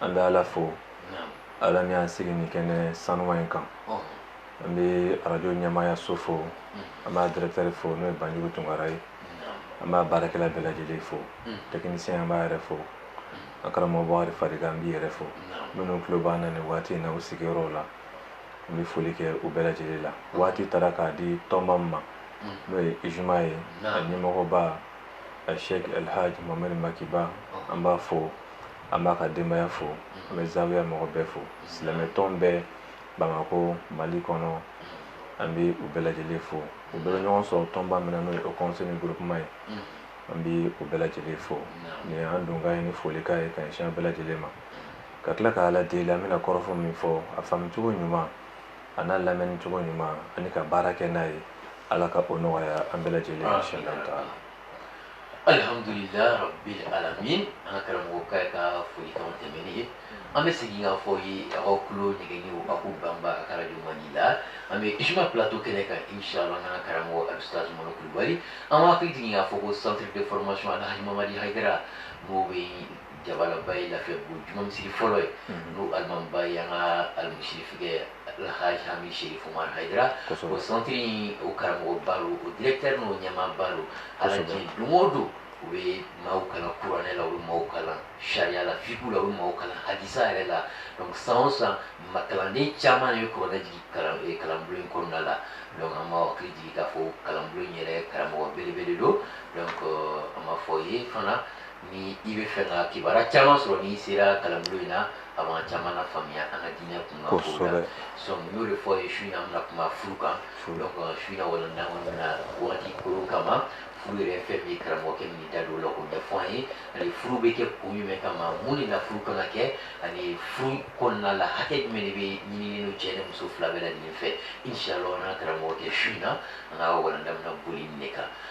an bɛ ala fo ala min y'an sigi nin kɛnɛ sanuma in kan an bɛ arajo ɲɛmaaya so fo an b'a dɛrɛtɛri fo n'o ye banjugu tunkara ye an b'a baarakɛla bɛɛ lajɛlen fo tɛkinisiyɛn an b'a yɛrɛ fo a karamɔgɔ b'a fari an b'i yɛrɛ fo minnu tulo b'an na nin waati in na u sigiyɔrɔw la an bɛ foli kɛ u bɛɛ lajɛlen la waati taara k'a di tɔnba min ma n'o ye izuma ye a ɲɛmɔgɔba asɛki alhaji mamadi maki ba an b'a fo an b'a ka denbaya fo an bɛ zawiya mɔgɔ bɛɛ fo silamɛtɔn bɛɛ bamakɔ mali kɔnɔ an bɛ u bɛɛ lajɛlen fo u bɛ ɲɔgɔn sɔrɔ tɔnba min na n'o ye o kɔnse ni gurupuman ye an bɛ u bɛɛ lajɛlen fo nin an donkan ye nin folikan ye ka ɲɛsin bɛɛ lajɛlen ma ka tila ka ala deli an bɛna kɔrɔfɔ min fɔ a faamucogo ɲuman a n'a lamɛnni cogo ɲuman ani ka baara kɛ n'a ye ala ka o nɔgɔya an bɛɛ lajɛlen inshallah taala alihamdulila rabi alamin an ka karamɔgɔkɛ ka folikanw tɛmɛnen ye an bɛ segin k'a fɔ aw ye aw ka kulo ɲɛgɛnni o ako banba a ka radio mandi la an bɛ izuma plateau kɛnɛ kan inshallah an ka karamɔgɔ alusitazi mɔnɔ kulubali an b'aw hakili jigin k'a fɔ ko centre de formation alhaji mamadi hayidara n'o bɛ jabalaba ye lafiyabugu juma misiri fɔlɔ ye n'o alimamiba ye an ka alimusirifikɛ Alhaji Hami Sherif Umar Hayidara o centre in o karamɔgɔba don o directeur n'o ɲɛmaaba don alaji don o don u bɛ maaw kalan kuranɛ la u bɛ maaw kalan sariya la fiqhu la u bɛ maaw kalan hadisa yɛrɛ la donc san o san ma kalanden caman de bɛ kuranɛ jigin kalan eh, kalanbulon in kɔnɔna la donc an b'aw hakili jigin k'a fɔ kalanbulon in yɛrɛ karamɔgɔ belebele don donc euh, an b'a fɔ aw ye fana Ni i b'a fɛ ka kibaruya caman sɔrɔ n'i sera kalanbulon in na, a b'an caman lafaamuya an ka diinɛ kunkan kow la, kosɛbɛ, donc n y'o de fɔ aw ye su in na an bɛna kuma furu kan, furu, donc su in na walanda in kɔnɔ an bɛna waati koron kama furu yɛrɛ ye fɛn min ye karamɔgɔkɛ bɛna i da don o la k'o ɲɛfɔ an ye ani furu bɛ kɛ kun jumɛn kama mun de la furu kan ka kɛ ani furu kɔnɔna la hakɛ jumɛn de bɛ ɲinini cɛ ni muso fila bɛɛ lajɛlen fɛ inchallah an n'an karamɔgɔkɛ su in na an ka walanda bɛna boli nin de kan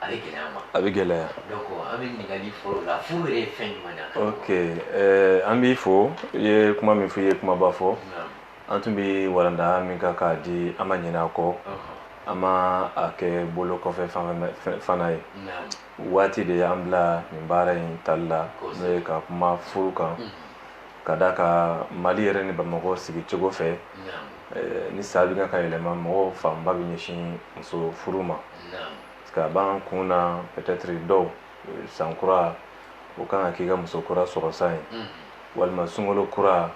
a bɛ gɛlɛya ma a bɛ gɛlɛya donc an bɛ ɲininkali fɔlɔ la furu yɛrɛ ye fɛn jumɛn ye ok eh, an b'i fo i ye kuma min fɔ i ye kumaba fɔ an tun bɛ walanda min kan k'a di an ma ɲinɛ a kɔ an ma a kɛ bolo kɔfɛ fana ye waati de y'an bila nin baara in tali la n'o ye ka kuma furu kan ka da kan mali yɛrɛ ni bamakɔ sigi cogo fɛ eh, ni san bɛ kan ka yɛlɛma mɔgɔw fanba bɛ ɲɛsin muso furu ma que a b'an kun na peut-être dɔw san kura o kan ka k'i ka muso kura sɔrɔsan ye walima sunkalo kura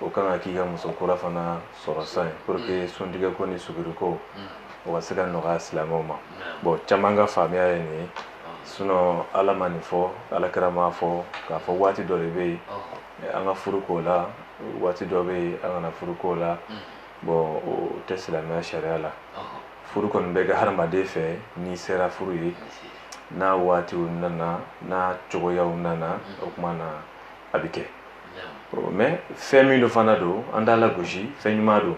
o kan ka k'i ka muso kura fana sɔrɔsan ye pour que suntigɛko ni suguriko o ka se ka nɔgɔya silamɛw ma bon caman ka faamuya ye nin ye sinon ala ma nin fɔ ala kira m'a fɔ k'a fɔ waati dɔ de bɛ yen an ka furu k'o la waati dɔ bɛ yen an kana furu k'o la bon o tɛ silamɛya sariya la furu kɔni bɛ kɛ hadamaden fɛ n'i sera furu ye n'a waatiw nana n'a cogoyaw nana o tuma na a bɛ kɛ mais fɛn min don fana don an t'a lagosi fɛn ɲuman don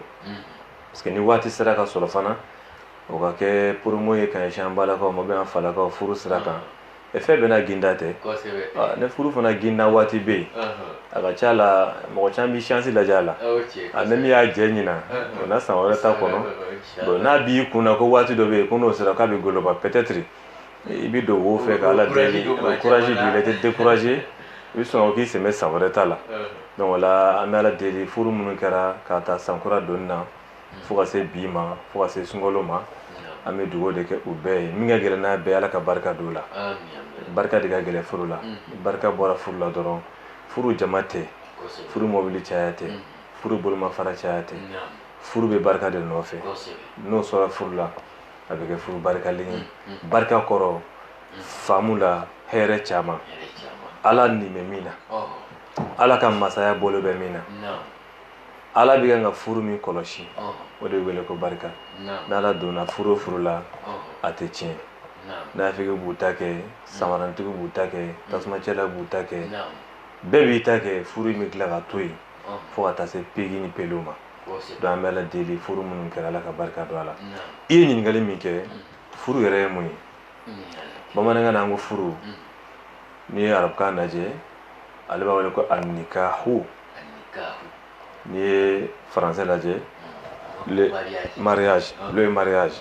parce que ni waati sera ka sɔrɔ fana o ka kɛ promo ye ka ɲɛsin an balakaw ma bɛ an falakaw furu sira kan fɛn bɛɛ n'a ginda tɛ ne furu fana ginda waati bɛ yen a ka ca la mɔgɔ caman bɛ chance lajɛ a la ani min y'a jɛ ɲinan o na san wɛrɛ ta kɔnɔ bon n'a b'i kun na ko waati dɔ bɛ yen ko n'o sera k'a bɛ goloba peut-être i bɛ don wo fɛ k'ala deli courage b'i la i tɛ décourager i bɛ sɔn k'i sɛmɛ san wɛrɛ ta la donc o la an bɛ ala deli furu minnu kɛra k'a ta sankura donni na fo ka se bi ma fo ka se sunkalo ma an bɛ dugawu de kɛ u bɛɛ ye min ka gɛlɛn n'a bɛɛ ala ka barika don a la barika de ka gɛlɛn furu la barika bɔra furu la dɔrɔn furu jama tɛ furu mɔbili caya tɛ furu bolomafara caya tɛ furu bɛ barika de nɔfɛ n'o sɔrɔ furu la a bɛ kɛ furu barikalen ye barika kɔrɔ faamu la hɛrɛ caman ala nin bɛ min na ala ka masaya bolo bɛ min na ala bɛ kan ka furu min kɔlɔsi o de bɛ wele ko barika n'ala donna furu o furu la a tɛ tiɲɛ nafigi b'u ta kɛ samarantigi b'u ta kɛ tasumacɛla b'u ta kɛ bɛɛ b'i ta kɛ furu in bɛ tila ka to yen fo ka taa se pegi ni pelew ma donc an bɛ ala deli furu minnu kɛra ala ka barika don a la i ye ɲininkali min kɛ furu yɛrɛ ye mun ye bamanankan na an ko furu n'i ye arabukan lajɛ ale b'a wele ko anikahu n'i ye faransɛ lajɛ le mariage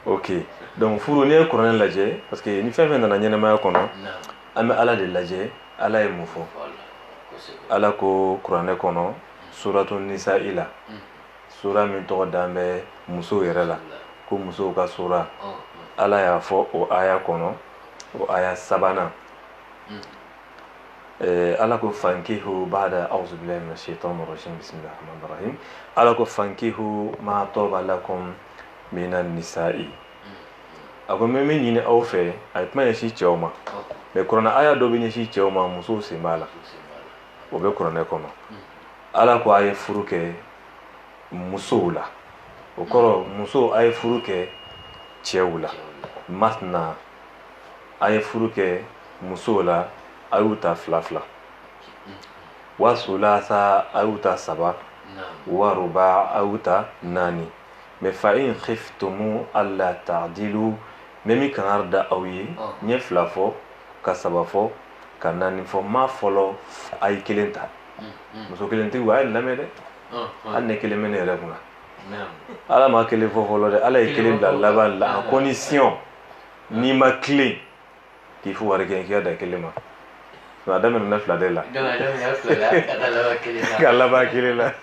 ok donc furu n'i ye kuranɛ lajɛ parce que ni fɛn fɛn nana ɲɛnamaya kɔnɔ an bɛ ala de lajɛ ala ye mun fɔ ala ko kuranɛ kɔnɔ suratu nisa'i la sura min tɔgɔ dan bɛ musow yɛrɛ la ko musow ka sura ala y'a fɔ o aya kɔnɔ o aya sabanan Eh, ala ko fankihu bada auzu billahi min ashaitan rajim bisimilah rahman rahim ala ko fankihu ma toba lakum mina nisa'i a ko n bɛ min ɲini aw fɛ a ye kuma ɲɛsin cɛw ma mais kuranɛ aya dɔ bɛ ɲɛsin cɛw ma musow sen b'a la o bɛ kuranɛ kɔnɔ ala ko a ye furu kɛ musow la o kɔrɔ musow a ye furu kɛ cɛw la masna a ye furu kɛ musow la a y'u ta fila fila wa sulasa a y'u ta saba wa ruba a y'u ta naani mais fa in khiftumu alla ta'dilu mais n bɛ kangari da aw ye n ye fila fɔ ka saba fɔ ka naani fɔ ma fɔlɔ a ye kelen ta muso kelentigiw a y'a lamɛn dɛ hali ne kelen bɛ ne yɛrɛ kunna ala ma kelen fɔ fɔlɔ dɛ ala ye kelen bila laban la à condition n'i ma tilen k'i fo wari kɛ k'i ka dan kelen ma a daminɛna fila de la ka laban kelen la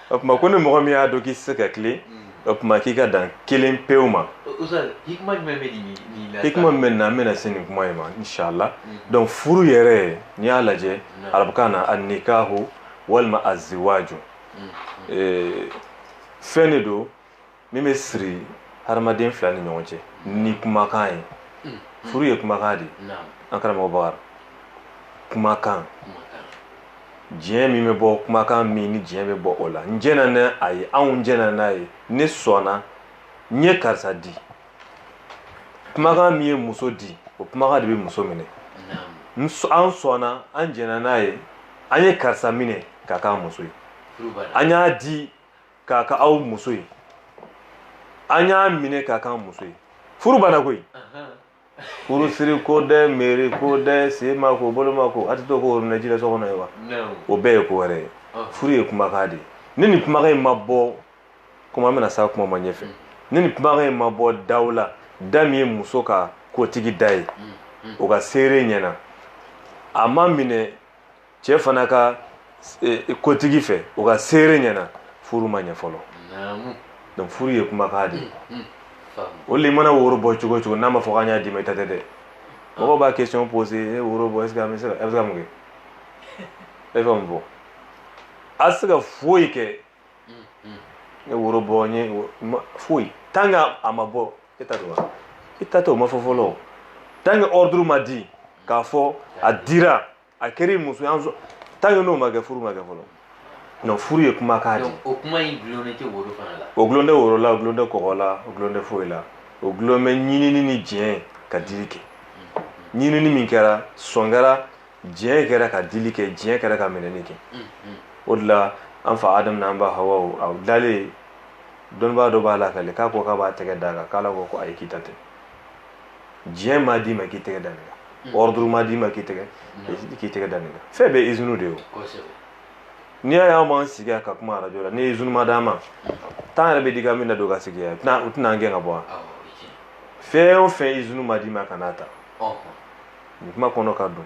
o tuma ko ni mɔgɔ min y'a dɔn k'i tɛ se ka tilen o tuma k'i ka dan kelen pewu ma hikima min bɛ nin na an bɛna se nin kuma in ma inshala donc furu yɛrɛ n'i y'a lajɛ arabukan na annikahu walima aziwaju fɛn de don min bɛ siri hadamaden fila ni ɲɔgɔn cɛ ni kumakan ye hmm. furu ye kumakan de ye an karamɔgɔ bakari kumakan diɲɛ min bɛ bɔ kumakan min ni diɲɛ bɛ bɔ o la n jɛna n'a ye anw jɛna n'a ye ne sɔnna n ye karisa di kumakan min ye muso di o kumakan de bɛ muso minɛ an sɔnna an jɛna n'a ye an ye karisa minɛ k'a k'a muso ye an y'a di k'a k'aw muso ye an y'a minɛ k'a k'an muso ye furu banna koyi furu siri ko dɛ meri ko dɛ sen ma ko bolo ma ko a tɛ to ko orunɛ ji la so kɔnɔ ye wa o bɛɛ ye ko wɛrɛ ye furu ye kumakan de ye ni nin kumakan in ma bɔ komi an bɛna s'a kuma ma ɲɛfɛ ni nin kumakan in ma bɔ daw la da min ye muso ka kotigi da ye o ka seere ɲɛna a ma minɛ cɛ fana ka eh, kotigi fɛ o ka seere ɲɛna furu ma ɲɛ fɔlɔ donc furu ye kumakan de ye mm, mm, hali i mana woro bɔ cogo o cogo n'a ma fɔ k'an y'a d'i ma i ta tɛ dɛ ah. mɔgɔw b'a question poser woro bɔ est ce que an bɛ se ka a bɛ se ka mun kɛ e bɛ mun fɔ a tɛ se ka foyi kɛ ne woro bɔ n ye foyi tant que a ma bɔ e ta don wa i ta tɛ o ma fɔ fɔlɔ tant que ordre ma di k'a fɔ a dira. a kɛra muso ye tant que n'o ma kɛ furu ma kɛ fɔlɔ non furu ye kumakan de ye o kuma in gulonnen tɛ woro fana la o gulonnen tɛ woro la o gulonnen tɛ kɔgɔ la o gulonnen tɛ foyi la o gulonnen bɛ ɲinini ni diɲɛ ka dili kɛ ɲinini min kɛra sɔn kɛra diɲɛ kɛra ka dili kɛ diɲɛ kɛra ka minɛni kɛ o de la an fa adamu n'an ba hawa a dalen dɔnnibaa dɔ b'a lakali k'a ko k'a b'a tɛgɛ d'a kan k'ala ko ko ayi k'i ta tɛ diɲɛ m'a d'i ma k'i tɛgɛ da nin kan ordre m'a d'i ma k'i tɛgɛ k'i tɛgɛ da nin kan fɛn bɛɛ izini de ye o n'i y'a ye an b'an sigi ka kuma arajo la ni izini ma d'an ma tan yɛrɛ bɛ di ka min na don ka sigi yan u tɛna an gɛn ka bɔ yan fɛn o fɛn izini ma d'i ma kan'a ta nin kuma kɔnɔ ka dun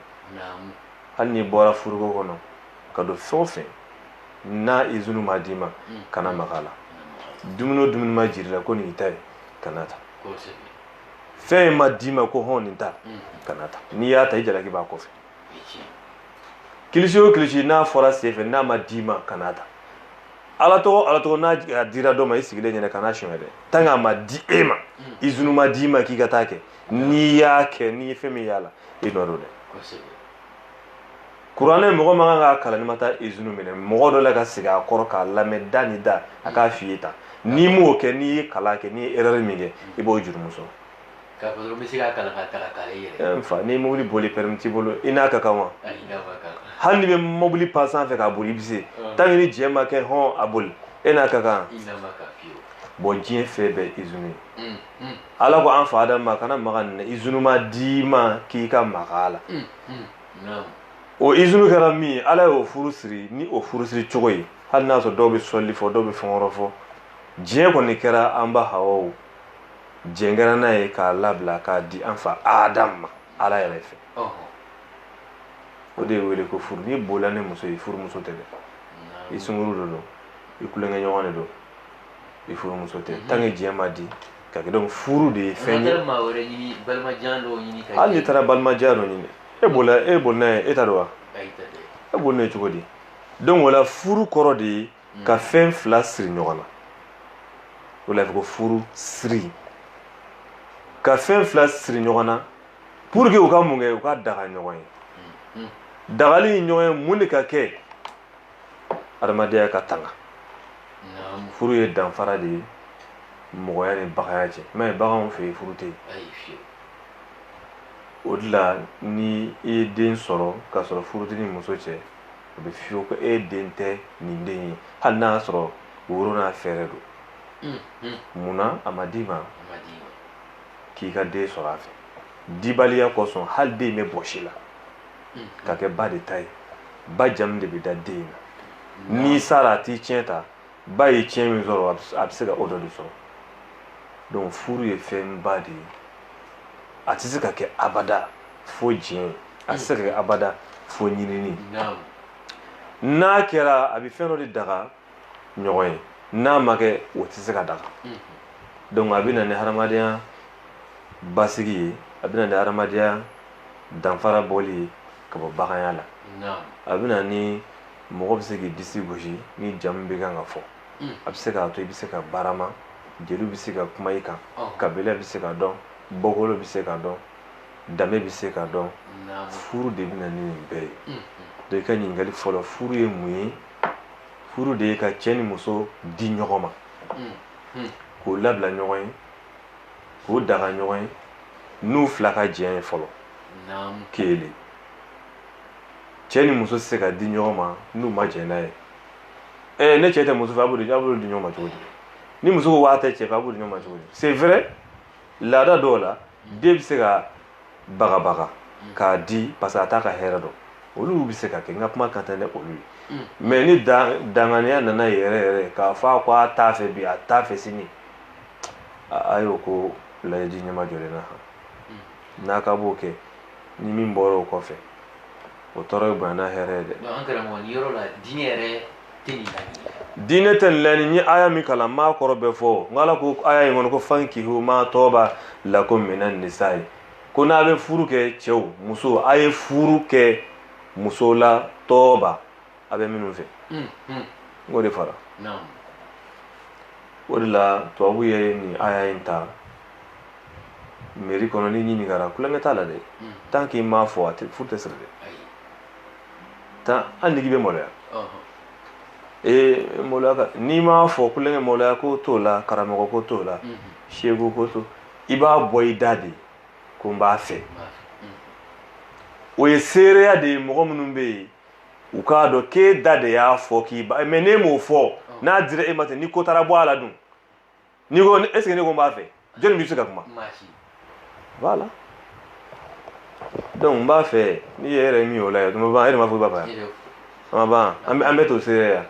hali n'i bɔra furuko kɔnɔ ka don fɛn o fɛn na izini ma d'i ma kana maga a la dumuni o dumuni ma jir'i la ko nin y'i ta ye kana ta fɛn ma d'i ma ko hɔn nin ta mm. kana ta n'i y'a ta i jalaki b'a kɔfɛ kilisi o kilisi n'a fɔra sen fɛ n'a ma d'i ma kana ta ala tɔgɔ ala tɔgɔ n'a dira dɔ ma i sigilen ɲɛna kana sonyɛ dɛ tant que a ma di e ma mm. izunu ma d'i ma k'i ka t'a kɛ n'i y'a kɛ n'i ye fɛn min y'a la i nɔ don dɛ kuranɛ mɔgɔ man kan k'a kalan n'i ma taa izinu minɛ mɔgɔ dɔ la ka sigi a kɔrɔ k'a lamɛn da ni da a k'a f'i ye tan n'i m'o kɛ n'i ye kalan kɛ n'i ye erɛri min kɛ i b'o jurumu sɔrɔ k'a fɔ dɔrɔn n bɛ se k'a kalan k'a ta k'a kalan i yɛrɛ n fa ni mobili boli pɛrɛmi t'i bolo i n'a ka kan wa ayi i n'a man kan hali n'i bɛ mobili pan sanfɛ k'a boli i bɛ se tant que ni diɲɛ ma kɛ hɔn a boli e n'a ka kan i n'a man kan fiyewu bɔn diɲɛ fɛn bɛɛ izini ye ala ko an fa adamu ma kana maga nin na izini ma d'i ma k'i ka maga a la o izunu kɛra min ye ala y'o furu siri ni o furu siri cogo ye hali n'a sɔrɔ dɔw bɛ sɔli fɔ dɔw bɛ fɛn wɛrɛ fɔ diɲɛ kɔni kɛra an ba hawa diɲɛ kɛra n'a ye k'a labila k'a di an fa adamu ma ala yɛrɛ fɛ o de ye wele ko furu n'i bolila ni muso ye furumuso tɛ dɛ i sungurun de don i tulonkɛ ɲɔgɔn de don i furumuso tɛ mhm. tant que diɲɛ ma di ka donc furu de ye fɛn ye hali n'i taara balimajɛya dɔ ɲini e bolila e boli n'a ye e t'a dɔn wa e boli n'a ye cogo di donc o la furu kɔrɔ de ye ka fɛn fila siri ɲɔgɔn na o la ko furu siri ka fɛn fila siri ɲɔgɔn na pour que u ka mun kɛ u ka daga ɲɔgɔn ye dagali ɲɔgɔn ye mun de ka kɛ adamadenya ka tanga furu ye danfara de ye mɔgɔya ni baganya cɛ mais baganw fɛ yen furu tɛ yen o de la ni i ye den sɔrɔ k'a sɔrɔ furu t'i ni muso cɛ o bɛ f'i ye ko e den tɛ nin den ye hali n'a y'a sɔrɔ woro n'a fɛrɛn don mm, mm. munna a ma d'i ma k'i ka den sɔrɔ a fɛ dibaliya kosɔn hali den bɛ bɔs'i la ka kɛ ba de ta ye ba jamu de bɛ da den na n'i sara a t'i ciyɛn ta ba ye ciyɛn min sɔrɔ a bɛ se ka o dɔ de sɔrɔ donc furu ye fɛnba de ye a tɛ se ka kɛ abada fo diɲɛ a tɛ se ka kɛ abada fo ɲinini n'a kɛra a bɛ fɛn dɔ de daga ɲɔgɔn ye n'a ma kɛ o tɛ se ka daga donc a bɛ na ni hadamadenya basigi ye a bɛ na ni hadamadenya danfara bɔli ye ka bɔ baganya la a bɛ na ni mɔgɔ bɛ se k'i disi gosi ni jamu bɛ kan ka fɔ a bɛ se k'a to i bɛ se ka barama jeliw bɛ se ka kuma i kan kabila bɛ se ka dɔn bɔkolo bɛ se ka dɔn danbe bɛ se ka dɔn furu de bɛ na ni nin bɛɛ ye donc i ka ɲininkali fɔlɔ furu ye mun ye furu de ye ka cɛ ni muso di ɲɔgɔn ma k'u labila ɲɔgɔn ye k'u daga ɲɔgɔn ye n'u fila ka jɛn ye fɔlɔ kelen cɛ ni muso tɛ se ka di ɲɔgɔn ma n'u ma jɛn n'a ye ɛɛ ni cɛ tɛ muso fɛ a b'u di ɲɔgɔn ma cogo di ni muso ko a tɛ cɛ fɛ a b'u di ɲɔgɔn ma cogo di c'est vrai laada dɔw la den bɛ se ka bagabaga mm. k'a di parce que a t'a ka hɛrɛ dɔn olu bɛ se ka kɛ n ka kuma kan tɛ ne olu ye mm. mais ni danganiya nana yɛrɛ yɛrɛ k'a fɔ a ko a t'a fɛ bi a t'a fɛ sini a y'o ko layidu ɲɛma jɔlen na mm. n'a ka b'o kɛ ni min bɔra o kɔfɛ o tɔɔrɔ ye bonya n'a hɛrɛ ye dɛ. an karamɔgɔ nin yɔrɔ la diinɛ yɛrɛ diinɛ tɛ nin laɲini n ye aya min kalan n m'a kɔrɔ bɛɛ fɔ n ala ko aya in kɔnɔ ko fankihu ma tɔɔba lakum mina nisa'i ko n'a bɛ furu kɛ cɛw muso a ye furu kɛ muso la tɔɔba a bɛ minnu fɛ hmm, hmm. n k'o de fara o de la tubabu ye nin aya in ta meri kɔnɔ n'i ɲininkara kulonkɛ t'a la dɛ hmm. tant que i m'a fɔ a tɛ furu tɛ siri dɛ tan hali n'i bɛ maloya ee maloya n'i m'a fɔ kulonkɛ maloya ko t'o la karamɔgɔ ko t'o la seko ko t'o i b'a bɔ i da de ko n b'a fɛ o ye seereya de ye mɔgɔ minnu bɛ yen u k'a dɔn k'e da de y'a fɔ k'i b'a mais n'e m'o fɔ n'a dira e ma ten ni ko taara bɔ a la dun n'i ko est ce que ne ko n b'a fɛ jɔnni bɛ se ka kuma voilà donc n b'a fɛ n'i yɛrɛ ye min y'o la yɛ tuma ban e de m'a fɔ i b'a fɛ yan an ma ban an bɛɛ t'o seereya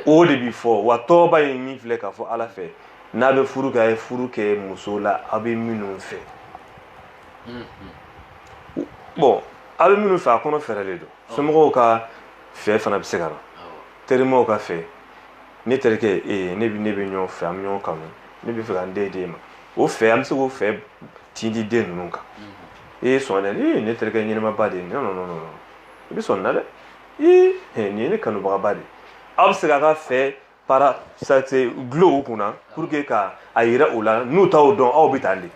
o de bi fɔ wa tɔɔba ye min filɛ k'a fɔ ala fɛ n'a bɛ furu kɛ a ye furu kɛ muso la aw bɛ minnu fɛ bon aw bɛ minnu fɛ a kɔnɔ fɛrɛlen don somɔgɔw ka fɛ fana bɛ se ka na terimaw ka fɛ ne terikɛ ee ne ne bɛ ɲɔgɔn fɛ an bɛ ɲɔgɔn kanu ne b'a fɛ ka n den d'e ma o fɛ an bɛ se k'o fɛ tindi den ninnu kan e ye sɔn dɛ ee ne terikɛ ɲɛnɛmaba de ye non non non i bɛ sɔn nin na dɛ ee nin ye ne kanubagaba de ye aw bɛ se k'a ka fɛ para sase glow kunna pour que ka a yira u la n'u t'aw dɔn aw bɛ tan de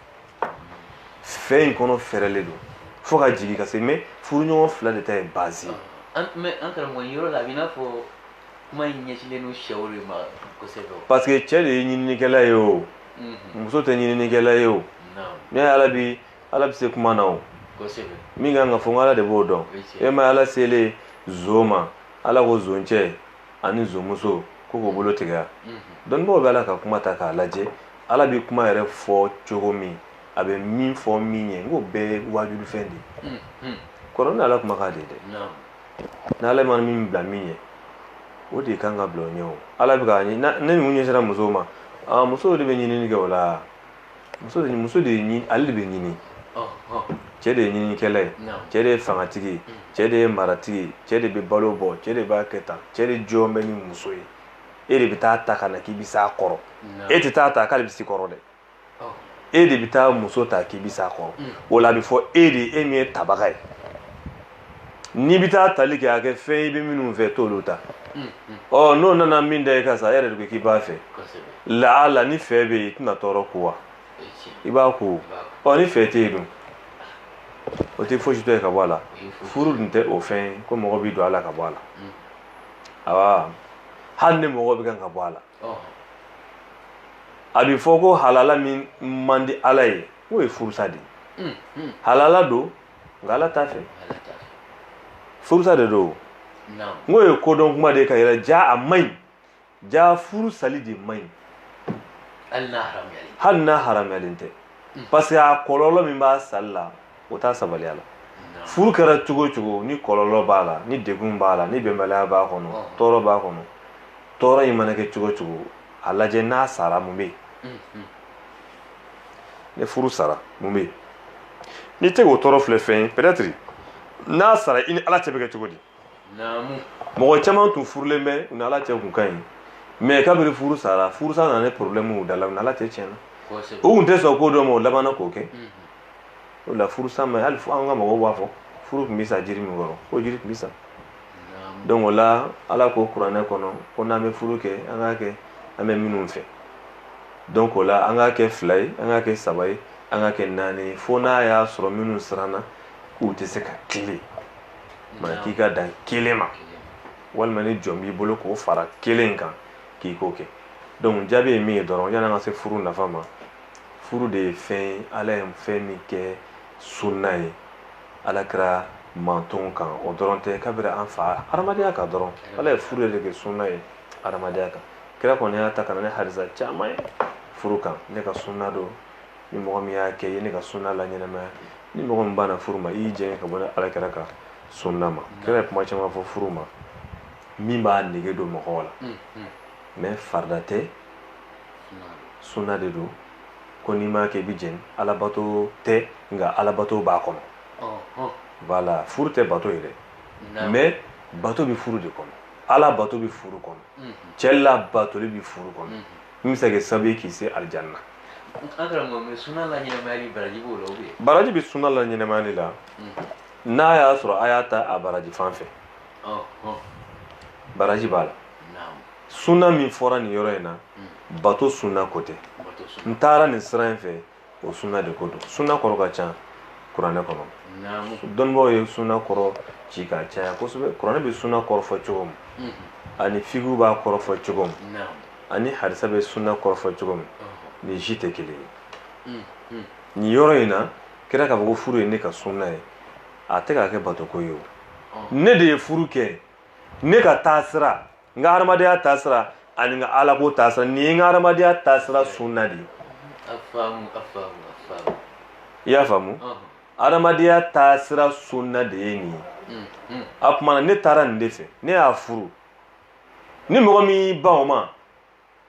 fɛ in kɔnɔ fɛrɛlen don fo ka jigin ka se mais furuɲɔgɔn fila de ta ye base ye an karamɔgɔ yɔrɔ la a b'i n'a fɔ kuma in ɲɛsilen don cɛw de ma kosɛbɛ parce que cɛ de ye ɲininikɛla ye o muso tɛ ɲininikɛla ye o mais ala bɛ ala bɛ se kuma na o min kan ka fɔ n ala de b'o dɔn e ma ala selen zon ma ala ko zoncɛ ani zonmuso ko k'u bolo tigɛya dɔnnibaaw bɛ ala ka kuma ta k'a lajɛ ala bɛ kuma yɛrɛ fɔ cogo min a bɛ min fɔ min ɲɛ n k'o bɛɛ waajulu fɛn de ye kɔrɔ ni ala kuma k'a de dɛ n'ala ma min bila min ɲɛ o de kan ka bila o ɲɛ o ala bɛ k'a ni ninnu ɲɛsira musow ma musow de bɛ ɲinini kɛ o la muso de muso de ye ale de bɛ ɲini cɛ de ye ɲinikɛla ye cɛ de ye fangatigi ye cɛ de ye maratigi cɛ de bɛ balo bɔ cɛ de b'a kɛ tan cɛ de jɔn bɛ ni muso ye e de bɛ taa ta ka na k'i bɛ s'a kɔrɔ e tɛ taa ta k'ale bɛ s'i kɔrɔ dɛ e de bɛ taa muso ta k'i bɛ s'a kɔrɔ o la a bɛ fɔ e de e min ye tabaga ye n'i bɛ taa tali kɛ a kɛ fɛn i bɛ minnu fɛ t'olu ta ɔ n'o nana min da i kan sa e yɛrɛ de ko k'i b'a fɛ laala ni fɛ bɛ yen i tɛna tɔɔrɔ ko wa i b'a ko ɔ ni fɛ tɛ yen dun o tɛ fosi tɔ ye ka bɔ a la furu dun tɛ o fɛn ye ko mɔgɔ bɛ don a la ka bɔ a la awa hali ni mɔgɔ bɛ kan ka bɔ a la a bɛ fɔ ko halala min man di ala ye o ye furusa de ye halala don nka ala t'a fɛ furusa de don n k'o ye kodɔn kuma de k'a yira jaa a man ɲi jaa furu sali de man ɲi hali n'a haramuyalen tɛ hmm. parce que a kɔlɔlɔ min b'a sali la o t'a sabaliya la furu kɛra cogo o cogo ni kɔlɔlɔ b'a la ni degun b'a la ni bɛnbaliya b'a kɔnɔ tɔɔrɔ b'a kɔnɔ tɔɔrɔ in mana kɛ cogo o cogo a lajɛ n'a sara mun bɛ yen ni furu sara mun bɛ yen n'i tɛ k'o tɔɔrɔ filɛ fɛn ye peut-être n'a sara i ni ala cɛ bɛ kɛ cogo di mɔgɔ caman tun furulen bɛ u ni ala cɛ tun ka ɲi mais kabiri furu sara furusa nana ni problème y'u da la u ni ala cɛ tiɲɛna u tun tɛ sɔn ko dɔ ma u labanna k'o kɛ o la furusa ma hali an ka mɔgɔw b'a fɔ furu tun bɛ sa jiri min kɔrɔ k'o jiri tun bɛ sa donc o la ala ko kuranɛ kɔnɔ ko n'an bɛ furu kɛ an k'a kɛ an bɛ minnu fɛ donc o la an k'a kɛ fila ye an k'a kɛ saba ye an k'a kɛ naani ye fo n'a y'a sɔrɔ minnu siranna k'u tɛ se ka kelen ma k'i ka dan kelen ma walima ni jɔn b'i bolo k'o fara kelen kan k'i k'o kɛ donc jaabi ye min ye dɔrɔn yan'an ka se furu nafa ma furu de ye fɛn ye ala ye fɛn min kɛ sunna ye alakira mantonw kan o dɔrɔn tɛ kabiri an fa hadamadenya kan dɔrɔn ala ye furu de kɛ sunna ye hadamadenya kan kira kɔni y'a ta ka na ni harisa caman ye furu kan ne ka sunna don ni mɔgɔ min y'a kɛ i ye ne ka sunna laɲɛnamaya ni mɔgɔ min banna furu ma i y'i jɛngɛ ka bɔ ne alakira ka sunna ma kira ye kuma caman fɔ furu ma min b'a nege don mɔgɔw la mais farida tɛ sunna de don ko n'i m'a kɛ i bɛ jɛni alabato tɛ nka alabato b'a kɔnɔ voilà furu tɛ bato ye dɛ mais bato bɛ furu de kɔnɔ ala bato bɛ furu kɔnɔ cɛ ala batoli bɛ furu kɔnɔ min bɛ se ka kɛ sababu ye k'i se alijanna baraji bɛ sunna laɲɛnamaya de la n'a y'a sɔrɔ a y'a ta a baraji fan fɛ baraji b'a la sunna min fɔra nin yɔrɔ in na bato sunna ko tɛ n taara nin sira in fɛ o sunna de ko don sunna kɔrɔ ka ca kuranɛ kɔnɔ dɔnnibaaw ye sunna kɔrɔ ci ka caya kosɛbɛ kuranɛ bɛ sunna kɔrɔ fɔ cogo min mhm. ani fiqhu b'a kɔrɔ fɔ cogo min ani harisa bɛ sunna kɔrɔ fɔ cogo min nin si tɛ kelen ye mm, mm. nin yɔrɔ in na kira k'a fɔ ko furu ye ne ka sunna ye a tɛ k'a kɛ batoko ye o ne de ye furu kɛ ne ka taasira n ka hadamadenya taasira ani n ka alako taasira nin ye n ka hadamadenya taasira sunna de ye i y'a faamu hadamadenya taasira sunna de ye nin ye mm-hmm. a kumana ne taara nin de fɛ ne y'a furu ni mɔgɔ min y'i ban o ma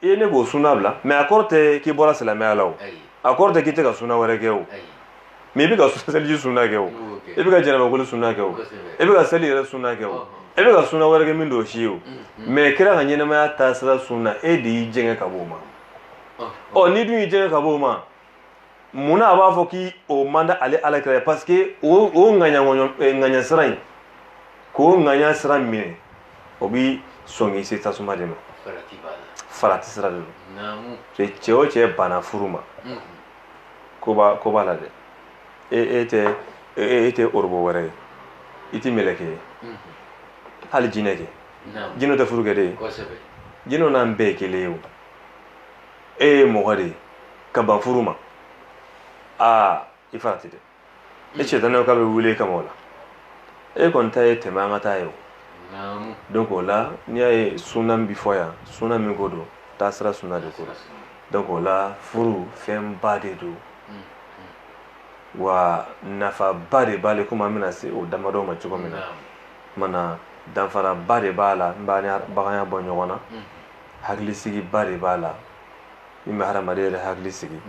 i ye ne k'o sunna bila mais a kɔrɔ tɛ k'i bɔra silamɛya la o a kɔrɔ tɛ k'i tɛ ka sunna wɛrɛ kɛ o mais i bɛ ka seliji sunna kɛ o i bɛ ka janabakoli sunna kɛ o i bɛ ka seli yɛrɛ sunna kɛ o i bɛ ka sunna wɛrɛ kɛ min t'o si ye o mais kira ka ɲɛnamaya taasira sunna e de y'i jɛngɛ ka bɔ o ma ɔ n'i dun y'i jɛngɛ ka bɔ o ma munna a b'a fɔ k'i o man di ale alakira ye parce que o o ŋaɲaŋɔɲɔ eh, gananya sira in k'o gananya sira minɛ o bi sɔn k'i se tasuma de ma farati sira de don cɛ o cɛ banna furu ma mhm. ko b'a ko b'a la dɛ e e tɛ e, e, e tɛ robot wɛrɛ ye i tɛ mɛlɛkɛ ye mhm. hali jinɛ kɛ jinɛw tɛ furu kɛ de ye jinɛw n'an bɛɛ ye kelen ye o e ye mɔgɔ de ye ka ban furu ma aa i farati dɛ e cɛtanaw ka bɛ wele kama o la e kɔni ta ye tɛmɛ an ka taa ye o donc o la n'i y'a ye suna min bɛ fɔ yan suna min ko don taasira suna de ko don donc o la furu fɛnba de don wa nafaba de b'a la komi an bɛna se o damadɔ ma cogo min na mana danfaraba de b'a la min b'an ni baganya bɔ ɲɔgɔn na hakilisigiba de b'a la min bɛ hadamaden yɛrɛ hakili sigi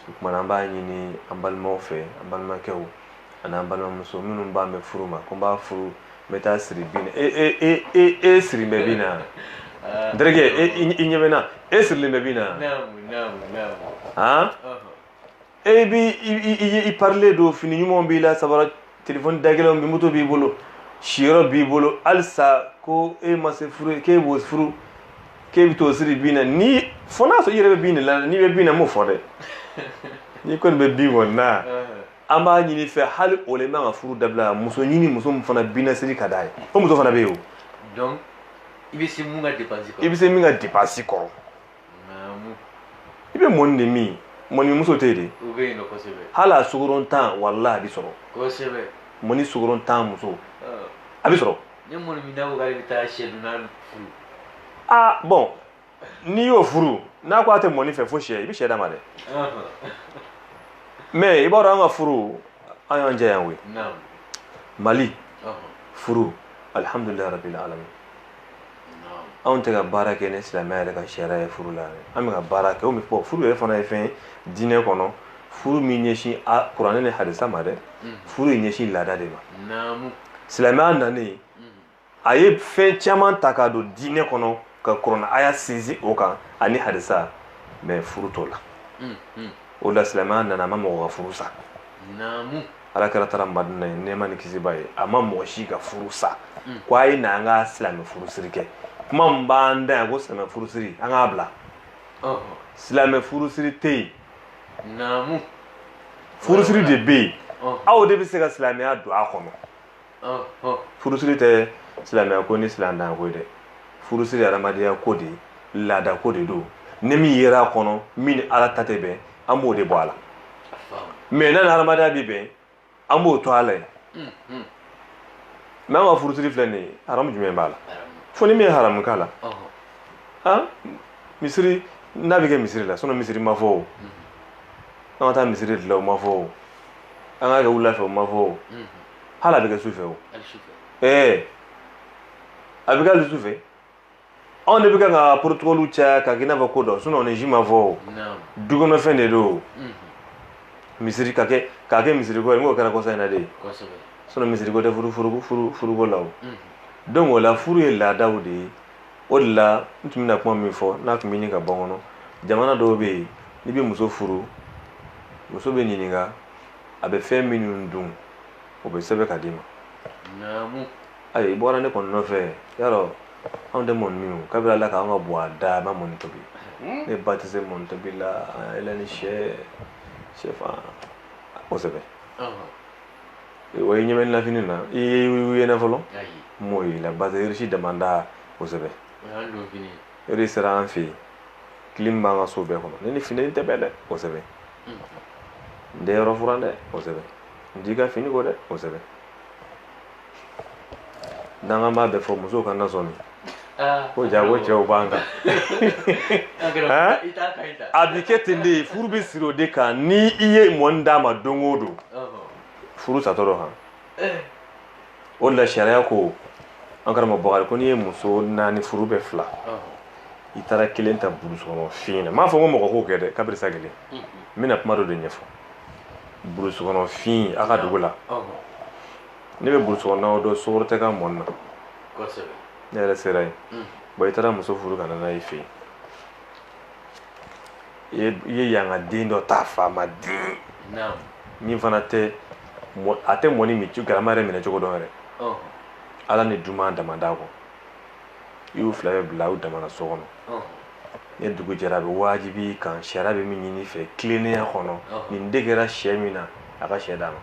o kuma na an b'a ɲini an balimaw fɛ an balimakɛw ani an balimamuso minnu bannen bɛ furu ma ko n b'a furu n bɛ t'a siri bin na e siri bɛ bin na n terikɛ e i ɲɛ bɛ n na e sirilen bɛ bin na han e bi i parilen don fini ɲumanw b'i la sabara telefɔni dagɛlɛnw bi moto b'i bolo siyɔrɔ b'i bolo halisa ko e ma se furu k'e b'o furu k'e bɛ t'o siri bin na ni fo n'a sɔrɔ i yɛrɛ bɛ bin de la n'i bɛ bin na n m'o fɔ dɛ n'i kɔni bɛ bin kɔni na an b'a ɲini i fɛ hali o la i man ka furu dabila muso ɲini muso min fana bin na siri ka d'a ye o muso fana bɛ yen o. donc i bɛ se min ka depansi kɔrɔ i bɛ se min ka depansi kɔrɔ. i bɛ mɔni de min mɔni muso tɛ de hali a sukarontan walahi a bɛ sɔrɔ mɔni sukarontan muso a bɛ sɔrɔ aa bɔn n'i y'o furu n'a ko a tɛ mɔni fɛ fo sɛ i bɛ sɛ d'a ma dɛ mɛ i b'a dɔn an ka furu an y'an jɛ yan koyi mali furu alihamdulilayi rabil ala anw tɛ ka baara kɛ ni silamɛya yɛrɛ ka sariya ye furu la an bɛ ka baara kɛ min fɔ furu yɛrɛ fana ye fɛn diinɛ kɔnɔ furu ma ɲɛsin kuranɛ ni hadisa ma dɛ mm. furu ye ɲɛsin laada de ma silamɛya nanen mm. a ye fɛn caman ta k'a don diinɛ kɔnɔ ka kuranɛ aya sinsin o kan ani hadisa mɛ furu t'o la mm, o la silamɛya nana a ma mɔgɔ ka furu sa ala kira taara madina yen nɛɛma ni kisi b'a ye a ma mɔgɔ si ka furu sa mm. ko a ye na an ka silamɛ furusiri kɛ kuma min b'an da yan ko silamɛ furusiri an k'a bila silamɛ furusiri tɛ yen naamu furusiri de bɛ yen aw de bɛ se ka silamɛya don a kɔnɔ furusiri tɛ silamɛya ko ni silamɛya ko ye dɛ furusiri ye adamadenya ko de ye laada ko de don ni min yera a kɔnɔ min ni ala ta tɛ bɛn an b'o de bɔ a la mɛ n'a ni adamadenya bɛ bɛn an b'o to a la yen mɛ an ka furusiri filɛ nin ye haramu jumɛn b'a la fo ni min ye haramu k'a la han misiri n'a bɛ kɛ misiri la sinɔn misiri ma fɔ o an ka taa misiri de la o ma fɔ o an k'a kɛ wula fɛ o ma fɔ o hali a bɛ kɛ su fɛ o ɛɛ a bɛ kɛ hali su fɛ anw de bɛ kan ka porotokɔliw caya ka kɛ i n'a fɔ ko dɔ sinɔn o nin si ma fɔ o dukɔnɔfɛn de don misiri ka kɛ k'a kɛ misiriko ye n k'o kɛra kɔsa in na de ye sinɔn misiriko tɛ furu furu furu furuko la o donc o la furu ye laadaw de ye o de la n tun bɛna kuma min fɔ n'a tun bɛ ɲini ka bɔ n kɔnɔ jamana dɔw bɛ yen n'i bɛ muso furu muso bɛ ɲininka a bɛ fɛn minnu dun o bɛ sɛbɛn ka d'i ma naamu ayi i bɔra ne kɔni nɔfɛ yarɔ anw tɛ mɔni min o kabiri ala k'an ka buwa da a ma mɔni tobi hmm? ne ba tɛ se mɔni tobi la a yɛlɛ ni sɛ sɛfan kosɛbɛ o ye ɲɛmɛ lafini na i ye i ye na fɔlɔ m'o ye la basirisi damanda kosɛbɛ hɛrɛ sera an fɛ yen kilimu b'an ka so bɛɛ kɔnɔ ne ni fini tɛ bɛn dɛ kosɛbɛ n tɛ yɔrɔ furan dɛ kosɛbɛ n t'i ka fini ko dɛ kosɛbɛ n'an b'a bɛɛ fɔ musow kana sɔmi ah, ko jaa ko cɛw b'an kan a bi kɛ ten de furu bɛ siri o de kan ni i ye mɔni d'a ma don o don furu satɔ d'o kan o la sariya ko an karamɔgɔ bakari ko n'i ye muso naani furu bɛ fila i taara kelen ta burusukɔnɔ fin na n m'a fɔ ko mɔgɔ k'o kɛ dɛ kabiri sa kelen n bɛna kuma dɔ de ɲɛfɔ burusukɔnɔ fin a ka dugu la ne bɛ burusukɔnɔnaw dɔn sukaro tɛ ka mɔni na ne yɛrɛ sera yen bon i taara muso furu ka na n'a ye i fɛ yen i ye yanka den dɔ ta faama den min fana tɛ a tɛ mɔni min galama yɛrɛ minɛ cogo dɔn yɛrɛ ala ni duman damanda kɔ i y'u fila bɛɛ bila u damana so kɔnɔ ni dugu jɛra a bɛ wajibi i kan sariya bɛ min ɲini i fɛ tilennenya kɔnɔ nin de kɛra sɛ minna a ka sɛ d'a ma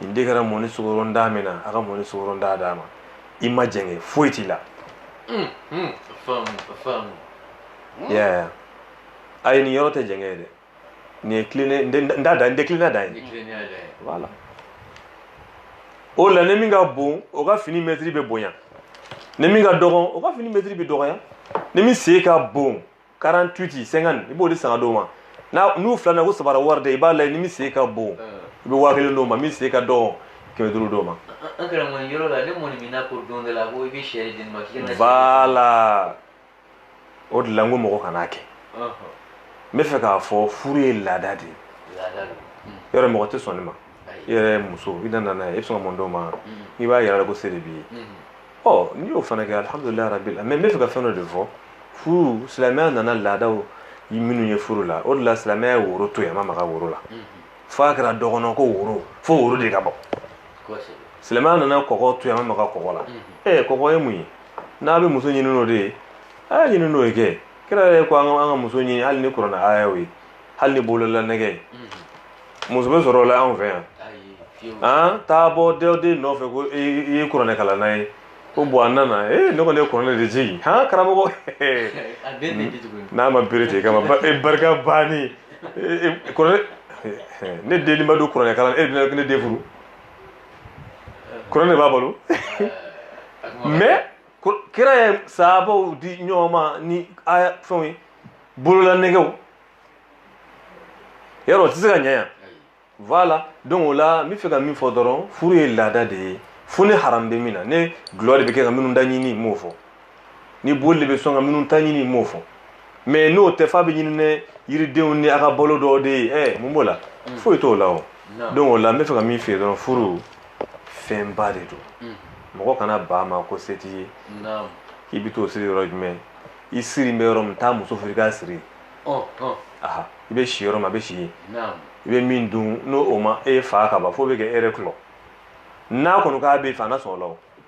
nin de kɛra mɔni sukarontan minna a ka mɔni sukarontan d'a ma i ma jɛngɛ foyi t'i la Hmm? Yeah. A ye nin yɔrɔ tɛ jɛngɛ ye dɛ. Nin ye tilennen n t'a da n tɛ tilennenya dan ye. Voilà. O la ni min ka bon o ka fini mɛtiri bɛ bonya. Ni min ka dɔgɔn o ka fini mɛtiri bɛ dɔgɔya. Ni min sen ka bon 48 50 i b'o de san ka d'o ma. N'a n'u filanan ko sabara wari de i b'a lajɛ ni min sen ka bon i bɛ waa kelen d'o ma min sen ka dɔgɔn kɛmɛ duuru d'o ma. An karamɔgɔ nin yɔrɔ la ne mɔni minna ko don dɔ la ko i bɛ sɛ di ne ma k'i ka na. Voilà. o de la n ko mɔgɔ kan'a kɛ n bɛ fɛ k'a fɔ furu ye laada de ye yɔrɔ mɔgɔ tɛ sɔn ne ma i yɛrɛ muso i nana n'a ye i bɛ sɔn ka mun d'o ma n'i b'a yira ko se de b'i ye ɔ n'i y'o fana kɛ alihamudulilayi rabili alamina n bɛ fɛ ka fɛn dɔ de fɔ furu silamɛya nana laadaw minnu ye furu la o de la silamɛya ye woro to yen a ma maga woro la fo a kɛra dɔ kɔnɔ ko woro fo woro de ka bɔ silamɛya nana kɔkɔ to yen a ma maga kɔkɔ la ee kɔkɔ ye mun ye n'a bɛ muso ɲini n'o de ye a y'a ɲini n'o ye kɛ kira yɛrɛ ko an ka an ka muso ɲini hali ni kuranɛ ayaw ye hali ni bolola nɛgɛ ye muso bɛ sɔrɔ o la anw fɛ yan ayi fiyewu an taa bɔ dɔw den nɔfɛ ko i i ye kuranɛ kalan n'a ye ko bon a nana ee ne kɔni ye kuranɛ de jigin han karamɔgɔ a bɛɛ tɛ di tuguni n'a ma bere tigɛ i kama ba- e barika banni E- e- kuranɛ ne den ma don kuranɛ kalan e bɛna ne den furu kuranɛ de b'a bolo mais kira ye sahabaw di ɲɔgɔn ma ni a fɛnw ye bolola nɛgɛw yarɔ o tɛ se ka ɲɛ yan voilà donc o la n bɛ fɛ ka min fɔ dɔrɔn furu ye laada de ye fo ni haram bɛ min na ni dulɔ de bɛ kɛ ka minnu ta ɲini n m'o fɔ ni boli bɛ sɔn ka minnu ta ɲini n m'o fɔ mais n'o tɛ f'a bɛ ɲini ni yiridenw ni a ka balo dɔw de ye ɛ mun b'o la mm. foyi t'o la o donc o la n bɛ fɛ ka min f'i ye dɔrɔn furu fɛnba de don mm. mɔgɔ kana ban a ma ko se t'i ye k'i bɛ t'o sigi yɔrɔ jumɛn i sigi bɛ yɔrɔ min taa muso furu i k'a sigi oh, oh. aha i bɛ si yɔrɔ min a bɛ si yen i bɛ min dun n'o o ma e fa ka ban fo bɛ kɛ e yɛrɛ kulɔ n'a kɔni k'a b'i fɛ a na sɔn o la o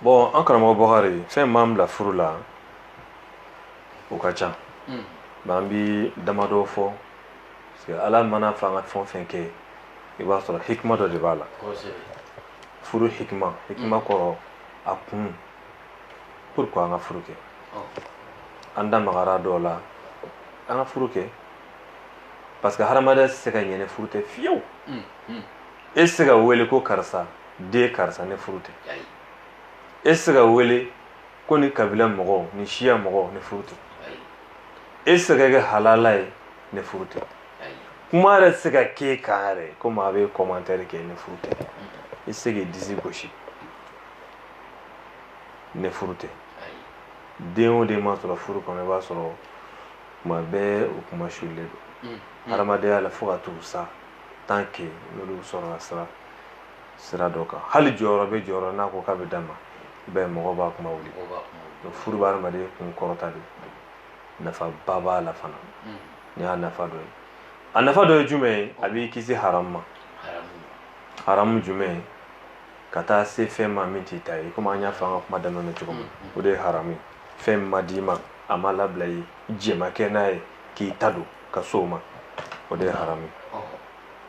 bon an karamɔgɔ bɔkari fɛn min b'an bila furu la o ka ca hmm. mais an bi damadɔ fɔ parce que ala man'a fɔ an ka fɛn o fɛn kɛ i b'a sɔrɔ hikima dɔ de b'a la furu hikima hikima hmm. kɔrɔ a kun pourquoi an ka furu kɛ oh. an da magara dɔw la an ka furu kɛ parce que hadamadenya tɛ se ka ɲɛ ni furu tɛ fiyewu hmm, e tɛ se ka wele ko karisa den karisa ni furu tɛ e tɛ se ka wele ko nin kabila mɔgɔ nin siya mɔgɔ ni furu tɛ e tɛ se ka kɛ halala ye ni furu tɛ kuma yɛrɛ tɛ se ka k'e kan yɛrɛ ko maa bɛ commentaire kɛ ni furu tɛ i tɛ se k'i disi gosi ni furu tɛ den o den ma sɔrɔ furu kɔnɔ i b'a sɔrɔ kuma bɛɛ u kunmasulen don hadamadenya la fo ka t'u sa tant que n'olu sɔrɔla sira sira dɔ kan hali jɔyɔrɔ bɛ jɔyɔrɔ n'a ko k'a bɛ d'a ma i b'a ye mɔgɔw b'a kuma wuli furu bɛ hadamaden kun kɔrɔta de nafaba b'a la fana hmm. ni y'a nafa dɔ ye a nafa dɔ ye jumɛn ye a b'i kisi haramu ma haramu jumɛn ye ka taa se fɛn ma min t'i ta ye komi an y'a fɔ an ka kuma daminɛ na cogo min hmm, hmm. o de ye haramu ye fɛn min ma d'i ma a ma labila i ye jɛn ma kɛ n'a ye k'i ta don ka se o ma o de ye haramu ye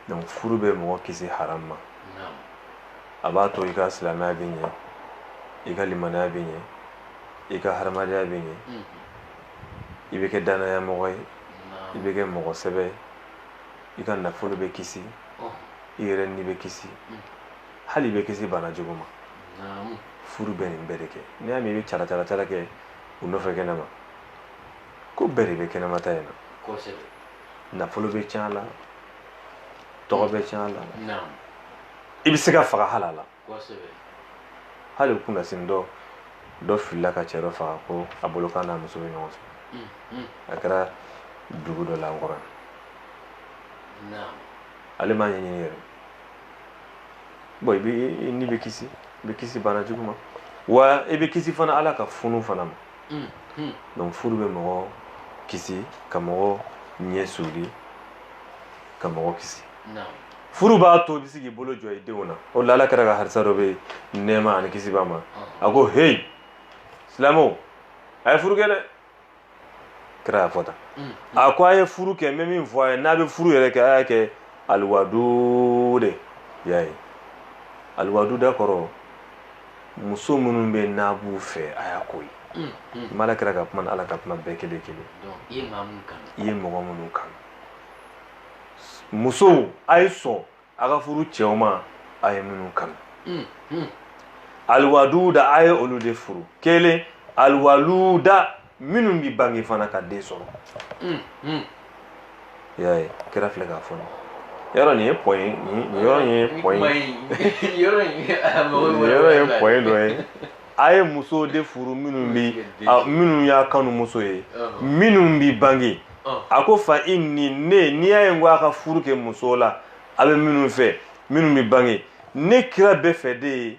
donc furu bɛ mɔgɔ kisi haram ma a b'a to i ka silamɛya bɛ ɲɛ i ka limanaya bɛ ɲɛ i ka hadamadenya bɛ ɲɛ mhm. i bɛ kɛ danaya mɔgɔ ye i bɛ kɛ mɔgɔ sɛbɛ ye i ka nafolo bɛ kisi i yɛrɛ ni bɛ kisi mhm. hali i bɛ kisi bana jugu ma furu bɛ nin bɛɛ de kɛ n'i y'a mɛn i bɛ calacalacala kɛ u nɔfɛ kɛnɛma ko bɛɛ de bɛ kɛnɛma ta in na nafolo bɛ tiɲɛ a la tɔgɔ bɛ tiɲɛ a la i bɛ se ka faga a la hali kunasinin dɔ filila ka cɛ dɔ faga ko a bolo k'a n'a muso bɛ ɲɔgɔn fɛ mm, mm. a kɛra dugu dɔ la n kɔrɔ ale m'a ɲɛɲini yɛrɛ bon i ni bɛ kisi i bɛ kisi bana jugu ma wa i bɛ kisi fana ala ka funu fana ma Hmm, hmm. donc furu bɛ mɔgɔ kisi ka mɔgɔ ɲɛ suuli ka mɔgɔ kisi furu b'a to i bɛ se k'i bolo jɔ i denw na o la ala kira ka hadisa dɔ bɛ yen nɛɛma ani kisi b'a ma a ko heyi silamɛw a ye furu kɛ dɛ kira y'a fɔ tan hmm, a ko a ye furu kɛ n bɛ min fɔ a ye n'a bɛ furu yɛrɛ kɛ a y'a kɛ aliwaduda y'a ye aliwaduda kɔrɔ muso minnu bɛ n'a b'u fɛ a y'a ko ye ala kira ka kuma ala ka kuma bɛɛ kelen kelen i ye mɔgɔ minnu kanu musow a ye sɔn a ka furu cɛw ma a ye minnu kanu aliwaduda a ye olu de furu kelen aliwaluda minnu bi bange fana ka den sɔrɔ y'a ye kira filɛ k'a fɔ yɔrɔ nin ye point ye yɔrɔ ye point dɔ ye a ye muso de furu minnu bi minnu y'a kanu muso ye minnu bi bange a ko fa inni ne n'i y'a ye n ko a ka furu kɛ muso la a bɛ minnu fɛ minnu bi bange ne kira b'a fɛ de ye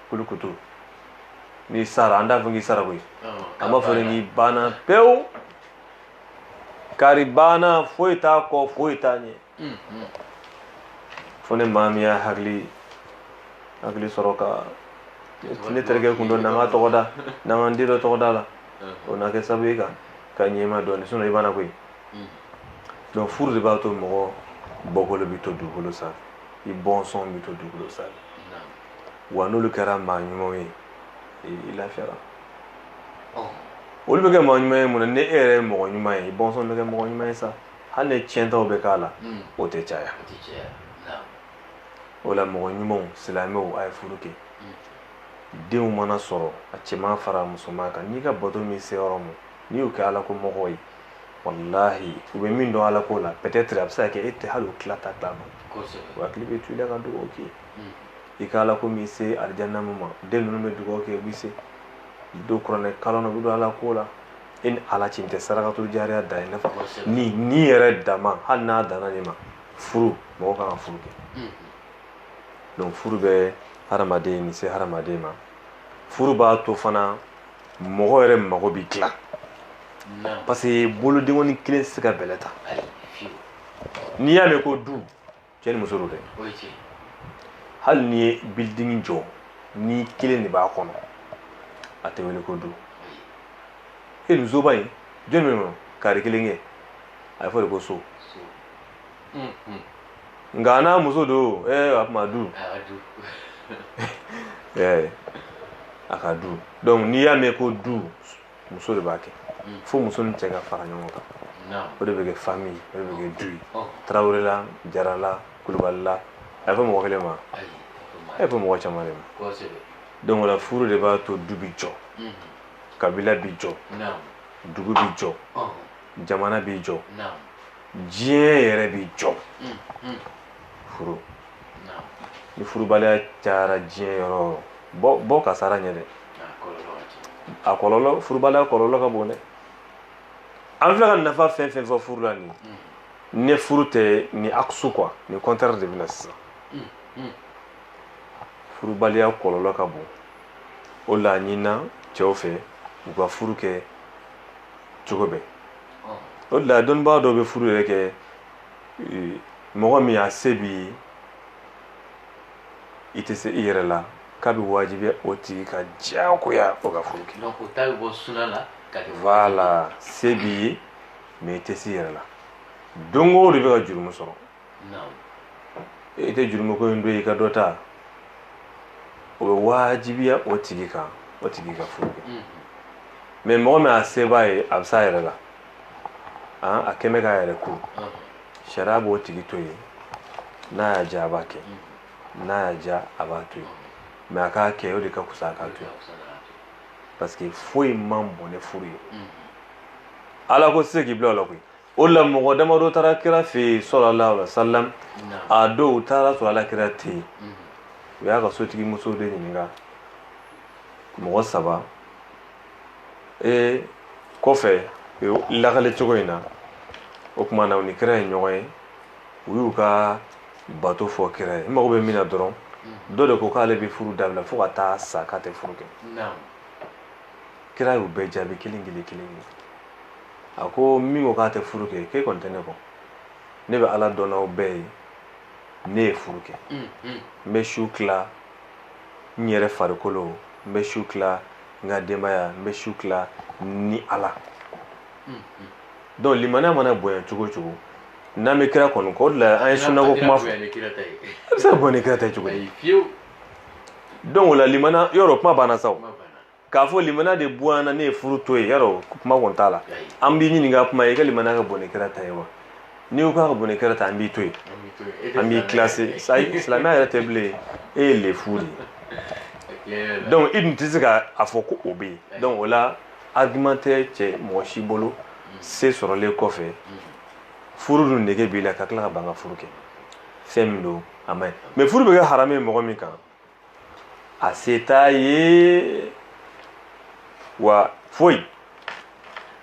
kulukutu n'i sara an t'a fɔ k'i sara koyi an b'a fɔ de k'i banna pewu kari banna foyi t'a kɔ foyi t'a ɲɛ fo ni maa min y'a hakili hakili sɔrɔ ka ne terikɛ kun don n'an ka tɔgɔ da n'an ka n den dɔ tɔgɔ d'a la o na kɛ sababu ye ka ka ɲɛma dɔɔni sinon i banna koyi donc furu de b'a to mɔgɔ bɔkolo bɛ to dugukolo sanfɛ i bɔnsɔn bɛ to dugukolo sanfɛ wa n'olu kɛra maa ɲumanw ye i lafiyara olu bɛ kɛ mɔgɔ ɲuman ye mun na ni e yɛrɛ ye mɔgɔ ɲuman ye i bɔnsɔn bɛ kɛ mɔgɔ ɲuman ye sa hali ni tiɲɛtaw bɛ k'a la hmm. o tɛ caya o la mɔgɔ ɲumanw silamɛw a ye furu kɛ hmm. denw mana sɔrɔ a cɛman fara musoman kan n'i ka bato m'i se yɔrɔ min n'i y'u kɛ ala ko mɔgɔ ye walahi u bɛ min dɔn ala ko la peut-être a bɛ se ka kɛ e tɛ hali o tila ta tila dɔn o hakili bɛ to i la ka dugawu k'i ye i ka ala ko m'i se alijanna min ma den ninnu bɛ dugawu kɛ u bɛ se don kuranɛ kalan na u bɛ don ala ko la e ni ala cɛ tɛ sarakato jariya de ye nafa nin yɛrɛ dama hali n'a danna nin ma furu mɔgɔ kan ka furu kɛ donc furu bɛ hadamaden ni se hadamaden ma furu b'a to fana mɔgɔ yɛrɛ mago bɛ dilan parce que bolodenkɔni kelen tɛ se ka bɛlɛ ta n'i y'a mɛn ko du cɛ ni muso don dɛ hali n'i ye building jɔ n'i kelen de b'a kɔnɔ a tɛ wele ko du e nin soba in jɔn bɛ yen kari kelen kɛ a bɛ fɔ de ko so nka n'a muso don ɛɛ a kuma du ɛɛ a ka du donc n'i y'a mɛn ko du muso de b'a kɛ mm. fo muso ni cɛ ka fara ɲɔgɔn kan o de bɛ kɛ famille o de bɛ kɛ du ye oh. tarawelela jarala kulubalila a ye fɔ mɔgɔ kelen ma a ye fɔ mɔgɔ caman de ma donc o la furu de b'a to du bi jɔ mm-hmm. kabila bi jɔ dugu bi jɔ oh. jamana bi jɔ diɲɛ yɛrɛ bi jɔ mm-hmm. furu ni furubaliya cayara diɲɛ yɔrɔ o yɔrɔ bɔ kasara ɲɛ dɛ a kɔlɔlɔ furubaliya kɔlɔlɔ ka bon dɛ an filɛ ka nafa fɛn fɛn fɔ furu la nin hmm. ni furu tɛ nin aksu quoi nin contraire de bɛ na sisan hmm, hmm. furubaliya kɔlɔlɔ ka bon o la ɲinina cɛw fɛ u ka furu kɛ cogo bɛɛ o de la dɔnnibaa dɔw bɛ furu yɛrɛ kɛ mɔgɔ min a se b'i ye i tɛ se i yɛrɛ la k'a bɛ wajibiya o tigi ka diyagoya o ka furu kɛ donc o ta bɛ bɔ suna la ka kɛ voilà se b'i ye mais i tɛ se i yɛrɛ la donc o de bɛ ka jurumu sɔrɔ i tɛ jurumu ko in don i ka dɔ ta o bɛ wajibiya o tigi kan o tigi ka furu kɛ mais mɔgɔ min a se b'a ye a bɛ s'a yɛrɛ la a kɛlen bɛ k'a yɛrɛ ko sariya b'o tigi to yen n'a y'a diya a b'a kɛ n'a y'a diya a b'a to yen mais a k'a kɛ o de ka kusa a k'a to yen parce que foyi man bon ni furu ye ala ko se k'i bila o la koyi o la mɔgɔ damadɔ taara kira fɛ yen sallallahu alaihi wasallam a don u taara sɔrɔ ala kira tɛ yen u y'a ka sotigi muso de ɲininka mɔgɔ saba ee kɔfɛ lakale cogo in na o tuma na u ni kira ye ɲɔgɔn ye u y'u ka bato fɔ kira ye n mago bɛ min na dɔrɔn dɔ de ko k'ale bɛ furu dabila fo ka taa sa k'a tɛ furu kɛ kira y'u bɛɛ jaabi kelen kelen kelen a ko min ko k'a tɛ furu kɛ k'e kɔni tɛ ne kɔ ne bɛ ala dɔn n'aw bɛɛ ye ne ye furu kɛ n bɛ su tila n yɛrɛ farikolo n bɛ su tila n ka denbaya n bɛ su tila ni ala donc limaniya mana bonya cogo cogo n'an bɛ kira kɔni kɔ o de la an ye sunnako kuma fɔ a bɛ se ka bonya ni kira ta ye cogo di donc o la limaniya yɔrɔ kuma banna sa o k'a fɔ limaniya de bonyana ne ye furu to yen yɔrɔ kuma kɔni t'a la an b'i ɲininka kuma i ka limaniya ka bon ni kira ta ye wa n'i ko k'a ka bon ni kira ta an b'i to yen an b'i classé silamɛya yɛrɛ tɛ bilen e ye lefu de ye donc i dun tɛ se ka a fɔ ko o bɛ yen donc o la argument tɛ cɛ mɔgɔ si bolo mm. se sɔrɔlen kɔfɛ mm. furu dun nege b'i la ka tila ka ban ka furu kɛ fɛn min don a man ɲi mais furu bɛ kɛ haramu ye mɔgɔ min kan a se t'a ye wa foyi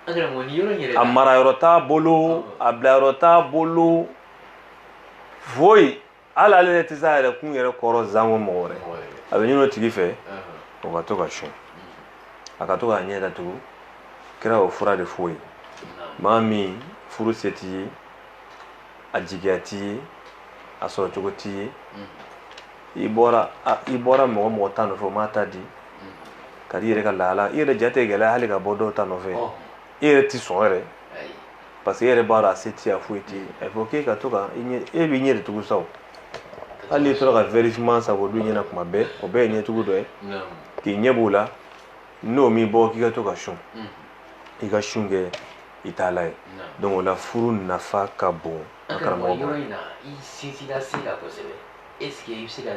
a marayɔrɔ t'a bolo a bilayɔrɔ t'a bolo foyi hali ale yɛrɛ tɛ se a yɛrɛ kun yɛrɛ kɔrɔ zanko mɔgɔ wɛrɛ a bɛ ɲin'o tigi fɛ o ka to ka sun a ka to k'a ɲɛ datugu kira o fura de f'o ye maa min furu se t'i ye a jigiya t'i ye a sɔrɔcogo t'i ye i bɔra i bɔra mɔgɔ mɔgɔ ta nɔfɛ o m'a ta di ka di i yɛrɛ ka lahala i yɛrɛ jate gɛlɛya hali ka bɔ dɔw ta nɔfɛ i yɛrɛ tɛ sɔn yɛrɛ parce que e yɛrɛ b'a dɔn a se t'i ye a foyi t'i ye a fɔ k'e ka to ka e b'i ɲɛ de tugu sa hali n'i tora ka vɛri fiman san k'o don ɲɛ na kuma bɛɛ o bɛɛ ye ɲɛtugu dɔ ye k'i ɲɛ b'o la n'o m'i bɔ k'i ka to ka sun i ka sun kɛ i taalan ye donc o la furu nafa ka bon a karamɔgɔ bolo est ce que i bɛ se ka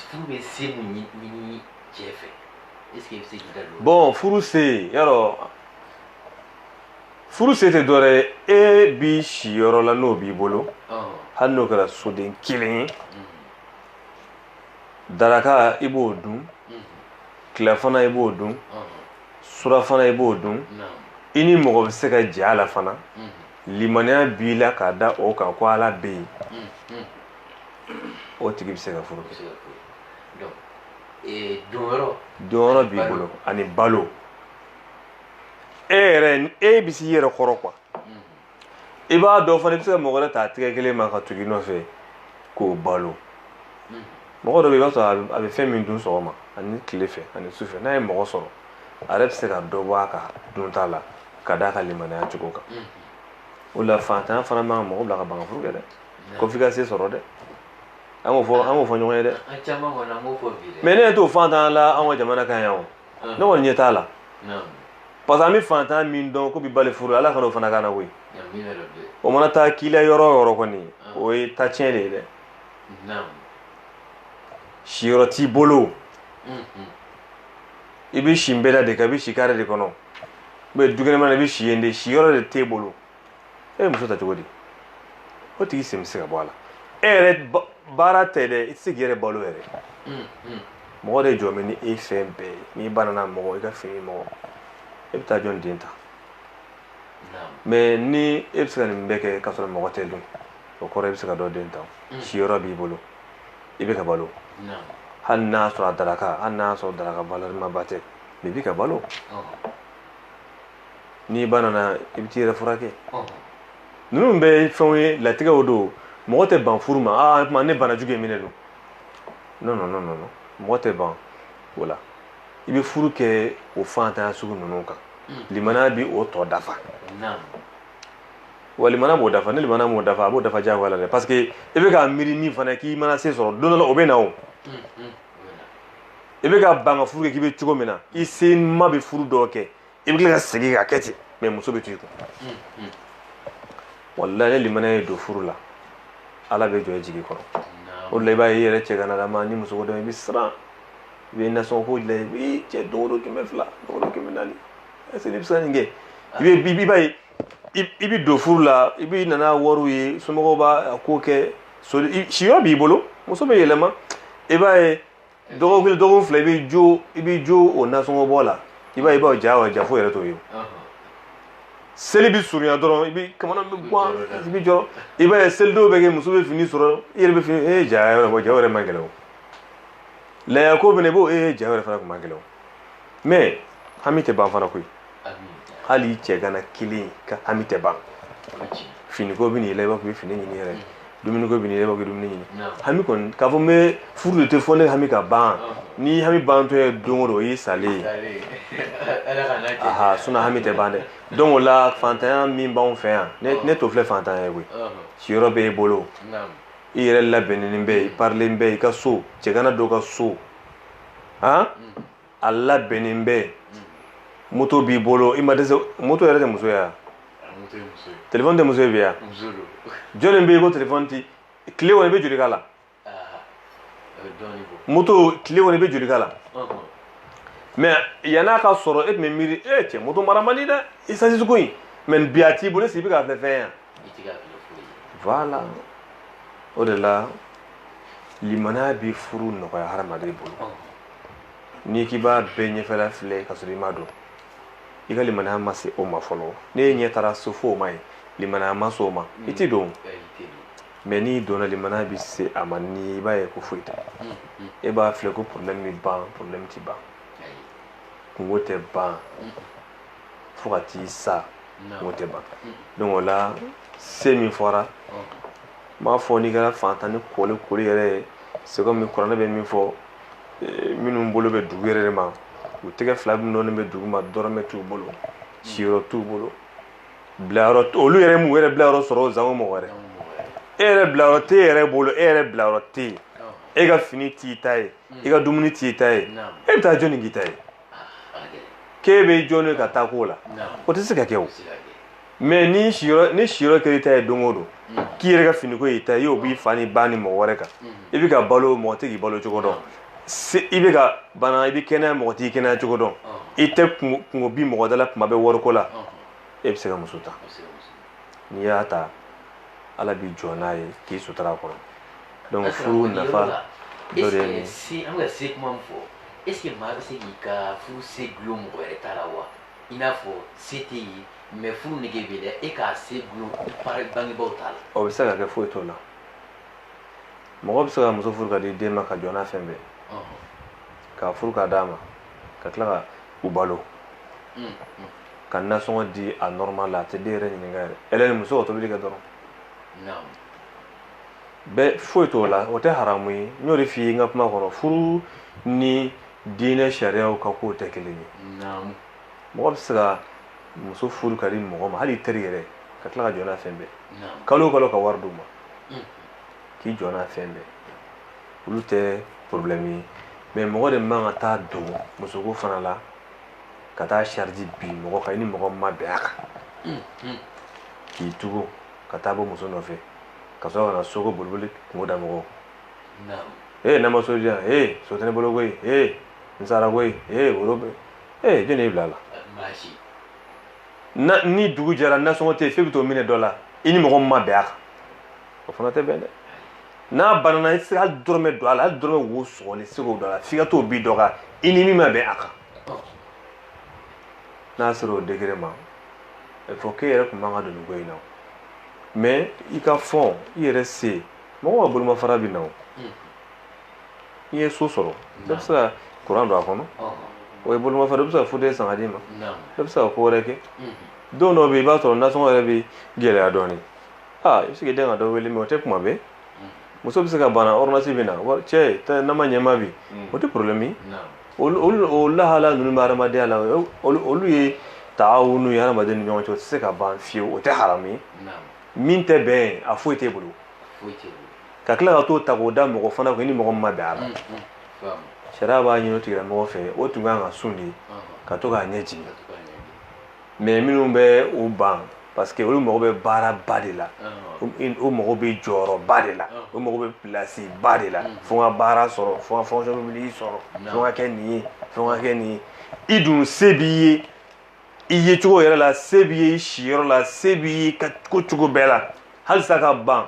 furu bɛ se mun ɲini cɛ fɛ est ce que i bɛ se k'i da don. bon furu se yɔrɔ furu se tɛ dɔwɛrɛ ye e bi si yɔrɔ la n'o b'i bolo hali n'o kɛra soden kelen ye daraka i b'o dun tilafana i b'o dun surafana i b'o dun i ni mɔgɔ bɛ se ka jɛ a la fana limaniya b'i la k'a da o kan ko ala bɛ yen o tigi bɛ se ka furu kɛ donyɔrɔ b'i bolo ani balo e yɛrɛ e bɛ s'i yɛrɛ kɔrɔ quoi i b'a dɔn fana i bɛ se ka mɔgɔ wɛrɛ ta tɛgɛ kelen ma ka tugu i nɔfɛ k'o balo mɔgɔ dɔ bɛ yen i b'a sɔrɔ a bɛ fɛn min dun sɔgɔma ani tile fɛ ani su fɛ n'a ye mɔgɔ sɔrɔ a yɛrɛ bɛ se ka dɔ bɔ a ka dunta la ka d'a ka limaniya cogo kan o la fantanya fana man kan mɔgɔ bila ka ban ka furu kɛ dɛ ko f'i ka se sɔrɔ dɛ an k'o fɔ an k'o fɔ ɲɔgɔn ye dɛ mais ne ɲɛ t'o fantanya la an ka jamana kan yan o ne kɔni ɲɛ t'a la parce que an bɛ fantanya min dɔn k'o b'i bali furu ala kana o fana k'an na koyi o mana taa k'i la yɔrɔ o yɔrɔ kɔni o ye ta tiɲɛ de ye dɛ siyɔrɔ t'i bolo i bɛ si nbɛda de kan i bɛ si kare de kɔnɔ u bɛ dukɛnɛma na i bɛ si yen de siyɔrɔ de t'e bolo e ye muso ta cogo di o tigi sen bɛ se ka bɔ a la e yɛrɛ baara tɛ dɛ i tɛ se k'i yɛrɛ balo yɛrɛ mɔgɔ de jɔ bɛ ni e fɛn bɛɛ ye n'i banana mɔgɔ i ka fini mɔgɔ e bɛ taa jɔn den ta mais ni e bɛ se ka nin bɛɛ kɛ k'a sɔrɔ mɔgɔ tɛ don o kɔrɔ i bɛ se ka dɔ den ta siyɔrɔ b'i bolo i bɛ ka balo hali n'a sɔrɔ a daraka hali n'a sɔrɔ daraka valeur ma ba tɛ mais i bɛ ka balo n'i banana i bɛ t'i yɛrɛ furakɛ ninnu bɛɛ ye fɛnw ye latigɛw don mɔgɔ tɛ ban furu ma aa tuma ne banajugu ye minɛ don non non non non mɔgɔ tɛ ban o la i bɛ furu kɛ o fantanya sugu ninnu kan limaniya bɛ o tɔ dafa wa limaniya b'o dafa ni limaniya m'o dafa a b'o dafa diyagoya la dɛ parce que i bɛ ka miiri min fana k'i mana se sɔrɔ don dɔ la o bɛ na o i bɛ ka ban ka furu kɛ k'i bɛ cogo min na i se ma bɛ furu dɔ kɛ i bɛ tila ka segin k'a kɛ ten mais muso bɛ to i kun walayi ni limaniya ye don furu la ala bɛ jɔ i jigi kɔrɔ o de la i b'a ye i yɛrɛ cɛganalama ni muso ko don i bɛ siran i bɛ nasɔngɔ ko dilan i bɛ cɛ don o don kɛmɛ fila don o don kɛmɛ naani est-ce que ne bɛ se ka nin kɛ i bɛ bi i b'a ye i i bɛ don furu la i bɛ nana wariw ye somɔgɔw b'a a ko kɛ so i- siyɔrɔ b'i bolo muso bɛ yɛlɛma i b'a ye dɔgɔkun kelen dɔgɔkun fila i bɛ jɔ i bɛ jɔ o nasɔngɔ bɔ la i b'a ye i b'o ja wa ja foyi yɛrɛ t'o ye o seli bɛ surunya dɔrɔn i bɛ kamana bɛ gan i bɛ jɔ i b'a ye selidon bɛ kɛ muso bɛ fini sɔrɔ i yɛrɛ bɛ fini e ye ja yɛrɛ bɔ ja yɛrɛ man gɛlɛn o laya ko bɛ na i b'o e ye ja yɛrɛ fana tun man gɛlɛn o mais hami tɛ ban fana koyi hali cɛ gana kelen ka hami tɛ ban finiko bɛ n'i la i b'a fɔ i bɛ fini ɲini yɛrɛ dumuniko bɛ n'i la i b'a fɔ i bɛ dumuni ɲini hami kɔni k'a fɔ n bɛ furu de kɛ fo ne hami ka ban ni hami bantɔ ye don o don o y'i salen ye aha sinon hami tɛ ban dɛ donc o la fantanya min b'anw fɛ yan ne ne t'o filɛ fantanya ye koyi siyɔrɔ b'e bolo i yɛrɛ labɛnnen bɛ i parilen bɛ i ka so cɛgana dɔ ka so han a labɛnnen bɛ moto b'i bolo i ma dɛsɛ moto yɛrɛ tɛ muso ye wa telefɔni tɛ muso ye bi wa jɔnni bɛ yen ko telefɔni ti tile kɔnɔ i bɛ joli k'a la moto tile kɔnɔ i bɛ joli k'a la mais yann'a ka sɔrɔ e tun bɛ miiri e cɛ moto mara man di dɛ esansi ko in mais bi a t'i bolo est-ce que i bɛ k'a filɛ fɛn ye wa voilà o de la limaniya bɛ furu nɔgɔya hadamaden bolo oh. n'i k'i b'a bɛɛ ɲɛfɛla filɛ ka sɔrɔ i ma don i ka limaniya ma se o ma fɔlɔ ne ye ɲɛ taara so fo o ma ye limaniya ma se o ma i tɛ don mais n'i donna limaniya bɛ se a ma ni i b'a ye ko foyi t'a la mm, mm. e b'a filɛ ko problème bɛ ban problème tɛ ban kungo tɛ ban mm. fo ka t'i sa o tɛ ban donc o la se min fɔra n b'a fɔ n'i kɛra fantannin kolikoli yɛrɛ ye c'est comme kuranɛ bɛ min fɔ eh, minnu bolo bɛ dugu yɛrɛ de ma u tɛgɛ fila min dɔrɔn bɛ dugu ma dɔrɔmɛ t'u bolo siyɔrɔ t'u bolo bilayɔrɔ olu yɛrɛ m'u yɛrɛ bilayɔrɔ sɔrɔ o sango mɔgɔ wɛrɛ e yɛrɛ bilayɔrɔ tɛ e yɛrɛ bolo e yɛrɛ bilayɔrɔ tɛ yen e ka fini t'i ta ye i ka dumuni t'i ta ye e bɛ taa jɔni k'i ta ye k'e bɛ jɔni ka taa k'o la o tɛ se ka kɛ o mais ni siyɔrɔ kɛra i ta ye don o don k'i yɛrɛ ka finiko y'i ta y'o b'i fa ni ba ni mɔgɔ wɛrɛ kan i bɛ ka balo mɔgɔ tɛ k'i balo cogo dɔn i bɛ ka bana i bɛ kɛnɛya mɔgɔ t'i kɛnɛya cogo dɔn i tɛ kungo bi mɔgɔ da la kuma bɛɛ wariko la e bɛ se ka muso ta n'i y'a ta ala b'i jɔ n'a ye k'i sutura a kɔrɔ donc furu nafa dɔ de ye se an bɛ ka se kuma min fɔ est ce que maa bɛ se k'i ka furu se gulon mɔgɔ wɛrɛ ta la wa i n'a fɔ se tɛ ye mais furu nege b'e la e k'a se gulon bangebaaw ta la o bɛ se ka kɛ foyi t'o la mɔgɔ bɛ se ka muso furu k'a di den ma ka jɔ n'a fɛn bɛɛ k'a furu k'a d'a ma ka tila ka u balo ka nasɔngɔ di a normal la a tɛ den yɛrɛ ɲininka yɛrɛ ale ni muso ka tobili kɛ dɔrɔn bɛɛ foyi t'o la o tɛ haramu ye n y'o de f'i ye n ka kuma kɔnɔ furu ni diinɛ sariyaw ka kow tɛ kelen ye mɔgɔ bɛ se ka muso furu k'a di mɔgɔ ma hali teri yɛrɛ ka tila ka jɔ n'a fɛn bɛɛ kalo o kalo ka wari d'u ma mm. k'i jɔ n'a fɛn bɛɛ olu tɛ problème ye mais mɔgɔ de man ka taa don musoko fana la ka taa charge bin mɔgɔ kan i ni mɔgɔ min ma bɛn a kan k'i tugu ka taa bɔ muso nɔfɛ ka sɔrɔ ka na soko boliboli kunko da mɔgɔw ee n'a ma so di yan ee so tɛ ne bolo koyi ee n sara koyi ee woro bɛ ee jɔni y'i bila a la ni dugu jɛra nasɔngɔ tɛ yen f'e bɛ t'o minɛ dɔ la i ni mɔgɔ min ma bɛn a kan o fana tɛ bɛn dɛ n'a banana i tɛ se ka hali dɔrɔmɛ don a la hali dɔrɔmɛ wo sɔgɔli i tɛ se k'o don a la f'i ka t'o bin dɔ kan i ni min ma bɛn a kan n'a sera o degré ma il faut k'e yɛrɛ tun man ka don nin ko in na o mais i ka fɔn i yɛrɛ se mɔgɔ ka bolomafara bɛ na o i ye so sɔrɔ dɔ bɛ se ka kuran don a kɔnɔ o ye bolomafara dɔ bɛ se ka fauteuil san ka d'i ma dɔ bɛ se ka ko wɛrɛ kɛ don dɔw bɛ yen i b'a sɔrɔ nasɔngɔ yɛrɛ bɛ gɛlɛya dɔɔnin aa i bɛ se k'i den ka dɔ wele mais o tɛ kuma bɛɛ muso bɛ se ka bana ordonnance bɛ na wari cɛ tɛ n'a ma ɲɛma bi o tɛ problème ye olu olu o lahala ninnu bɛ hadamadenya la o- olu olu ye taawunu ye hadamaden ni ɲɔgɔn cɛ o tɛ se ka ban fiyewu o tɛ haramu ye min tɛ bɛn ye a foyi t'e bolo ka tila ka t'o ta k'o da mɔgɔ fana kun i ni mɔgɔ min ma bɛn a la sariya b'a ɲini o tigilamɔgɔ fɛ o tun kan ka sun de ka to k'a ɲɛ jigin mais minnu bɛ u ban parce que olu mago bɛ baara ba de la o mago bɛ jɔyɔrɔ ba de la o mago bɛ place ba de la fo ka baara sɔrɔ fo ka fonction publique sɔrɔ fo ka kɛ nin ye fo ka kɛ nin ye i dun se b'i ye i ye cogo yɛrɛ la se b'i ye i siyɔrɔ la se b'i ye ko cogo bɛɛ la halisa ka ban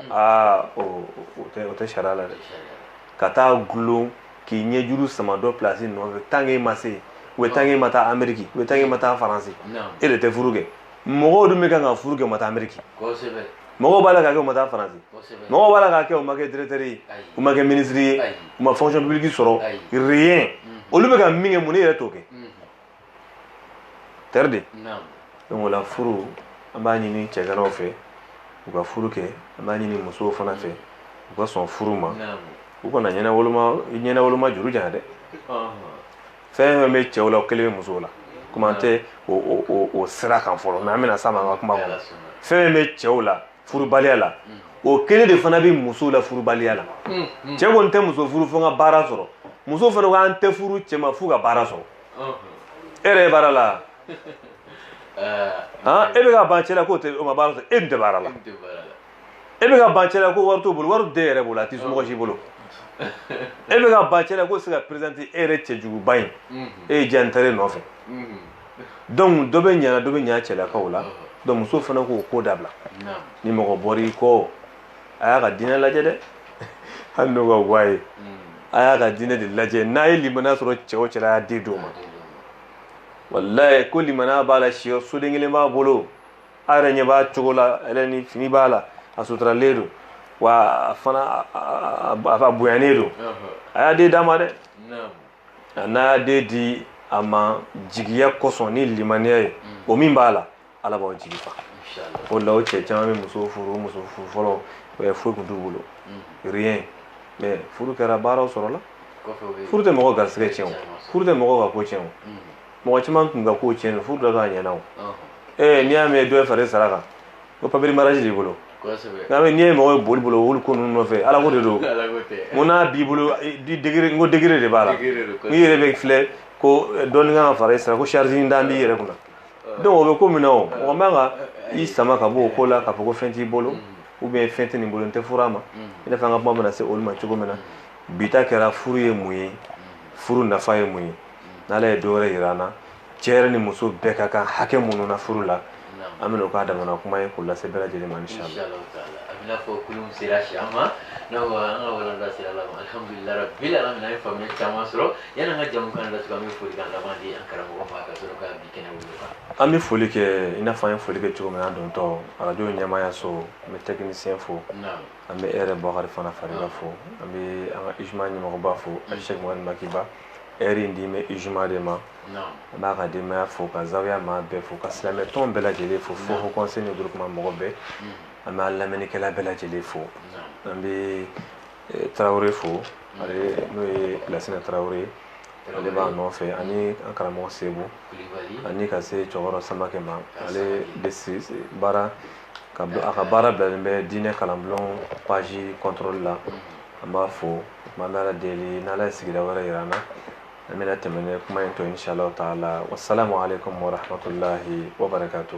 aa o tɛ sariya la dɛ ka taa gulon k'i ɲɛjuru sama dɔ place nɔfɛ tant k'e ma se ou bien tant k'e ma taa ameriki ou bien tant k'e ma taa faransi e de tɛ furu kɛ mɔgɔw dun bɛ kan ka furu kɛ u ma taa ameriki mɔgɔw b'a la k'a kɛ u ma taa faransi mɔgɔw b'a la k'a kɛ u ma kɛ directeur ye u ma kɛ ministre ye u ma fonction publique sɔrɔ rien olu bɛ ka min kɛ mun n'e yɛrɛ t'o kɛ tɛri de donc o la furu an b'a ɲini cɛganaw fɛ u ka furu kɛ an b'a ɲini musow fana fɛ u ka sɔn furu ma u kana ɲɛnawoloma ɲɛnawoloma juru janya dɛ fɛn fɛn bɛ cɛw la o kelen bɛ musow la komi an tɛ o sira kan fɔlɔ mais an bɛna s'a ma an ka kuma kɔnɔ fɛn fɛn bɛ cɛw la furubaliya la o kelen de fana bɛ musow la furubaliya la cɛ kɔni tɛ muso furu fo n ka baara sɔrɔ muso fana ko an tɛ furu cɛ ma f'u ka baara sɔrɔ e yɛrɛ baara la ah, e bɛ ka ban cɛ la k'o ma baara sɔrɔ e dun tɛ baara la e bɛ ka ban cɛ la ko wari t'o bolo wari t'e yɛrɛ bolo a t'i somɔgɔ si bolo e bɛ ka ban cɛ la k'o se ka présenter e yɛrɛ cɛjuguba in e ye diya ntare nɔfɛ donc dɔ bɛ yan na dɔ bɛ yan cɛlakaw la donc muso fana k'o ko dabila ni mɔgɔ bɔr'i kɔ a y'a ka diinɛ lajɛ dɛ hali n'o ka wa ye a y'a ka diinɛ de lajɛ n'a ye limaniya sɔrɔ cɛ o cɛ la a y'a den d'o ma walayi ko limaniya b'a la siyɔrɔ soden kelen b'a bolo a yɛrɛ ɲɛ b'a cogo la a yɛrɛ ni fini b'a la a suturalen don wa a fana a a a bonyanen don a y'a den d'a ma dɛ a n'a y'a den di a ma jigiya kosɔn ni limaniya ye o min b'a la ala b'aw jigi fa o la o cɛ caman bɛ muso furu muso furu fɔlɔ foyi tun t'u bolo rien mais furu kɛra baaraw sɔrɔla furu tɛ mɔgɔ garisigɛ tiɲɛ o furu tɛ mɔgɔ ka ko tiɲɛ o mɔgɔ caman tun ka ko tiɲɛ furu dɔ k'a ɲɛna o n'i y'a mɛn dɔ ye far'i sara kan ko papier mariage b'i bolo n'a bɛ n'i ye mɔgɔ ye boli bolo wuli ko ninnu nɔfɛ ala ko de don ko n'a b'i bolo degré n ko degré de b'a la n'i yɛrɛ bɛ filɛ ko dɔɔni kan ka fara i sara ko charge dan b'i yɛrɛ kunna donc o bɛ ko min na o mɔgɔ man ka i sama ka bɔ o ko la k'a fɔ ko fɛn t'i bolo ou bien fɛn tɛ nin bolo n tɛ furu a ma i n'a fɔ an ka kuma bɛna se olu ma cogo min na bi ta kɛra furu ye mun ye furu nafa ye mun ye n'ala ye dɔwɛrɛ yira an na cɛ yɛrɛ ni muso bɛɛ ka kan hakɛ minnu na furu la an bɛna o k'a damana kuma ye k'o lase bɛɛ lajɛlen ma inshallah an bɛn'a fɔ kulun sera cɛncɛn ma n'a fɔ an ka walanda sera dan ma alhamdulillah rabbil alamin an ye faamuya caman sɔrɔ yanni an ka jɛmukan datugu an bɛ folikan laban di an karamɔgɔ ma ka sɔrɔ ka bi kɛnɛ wuli an bɛ foli kɛ i n'a fɔ an ye foli kɛ cogo min na an dontɔ arajo ɲɛmaaya so an bɛ technicien fo an bɛ e yɛrɛ bukari fana fariga fo an bɛ an ka ijuma ɲɛmɔgɔba fo a sɛk maki ba ɛri in dilen bɛ ijuma de ma an b'a ka denbaya fo ka zawiya maa bɛɛ fo ka silamɛ tɔn bɛɛ lajɛlen fo fo haut conseil ni groupement mɔgɔ bɛɛ an b'a lamɛnnikɛla bɛɛ lajɛlen fo an bɛ eh, tarawele fo ale n'o ye lasina tarawele ye ale b'a nɔfɛ ani an karamɔgɔ sebu ani ka se cɛkɔrɔ samakɛ ma ale bɛ baara a ka baara bilalen bɛ diinɛ kalanbulon page contrôle la an b'a fo Tuma bɛ deli n' ye sigira wɛrɛ jira na an bɛna tɛmɛ ne kuma in to in sa t'a la wa sa ma ale ko mɔratɔla waka to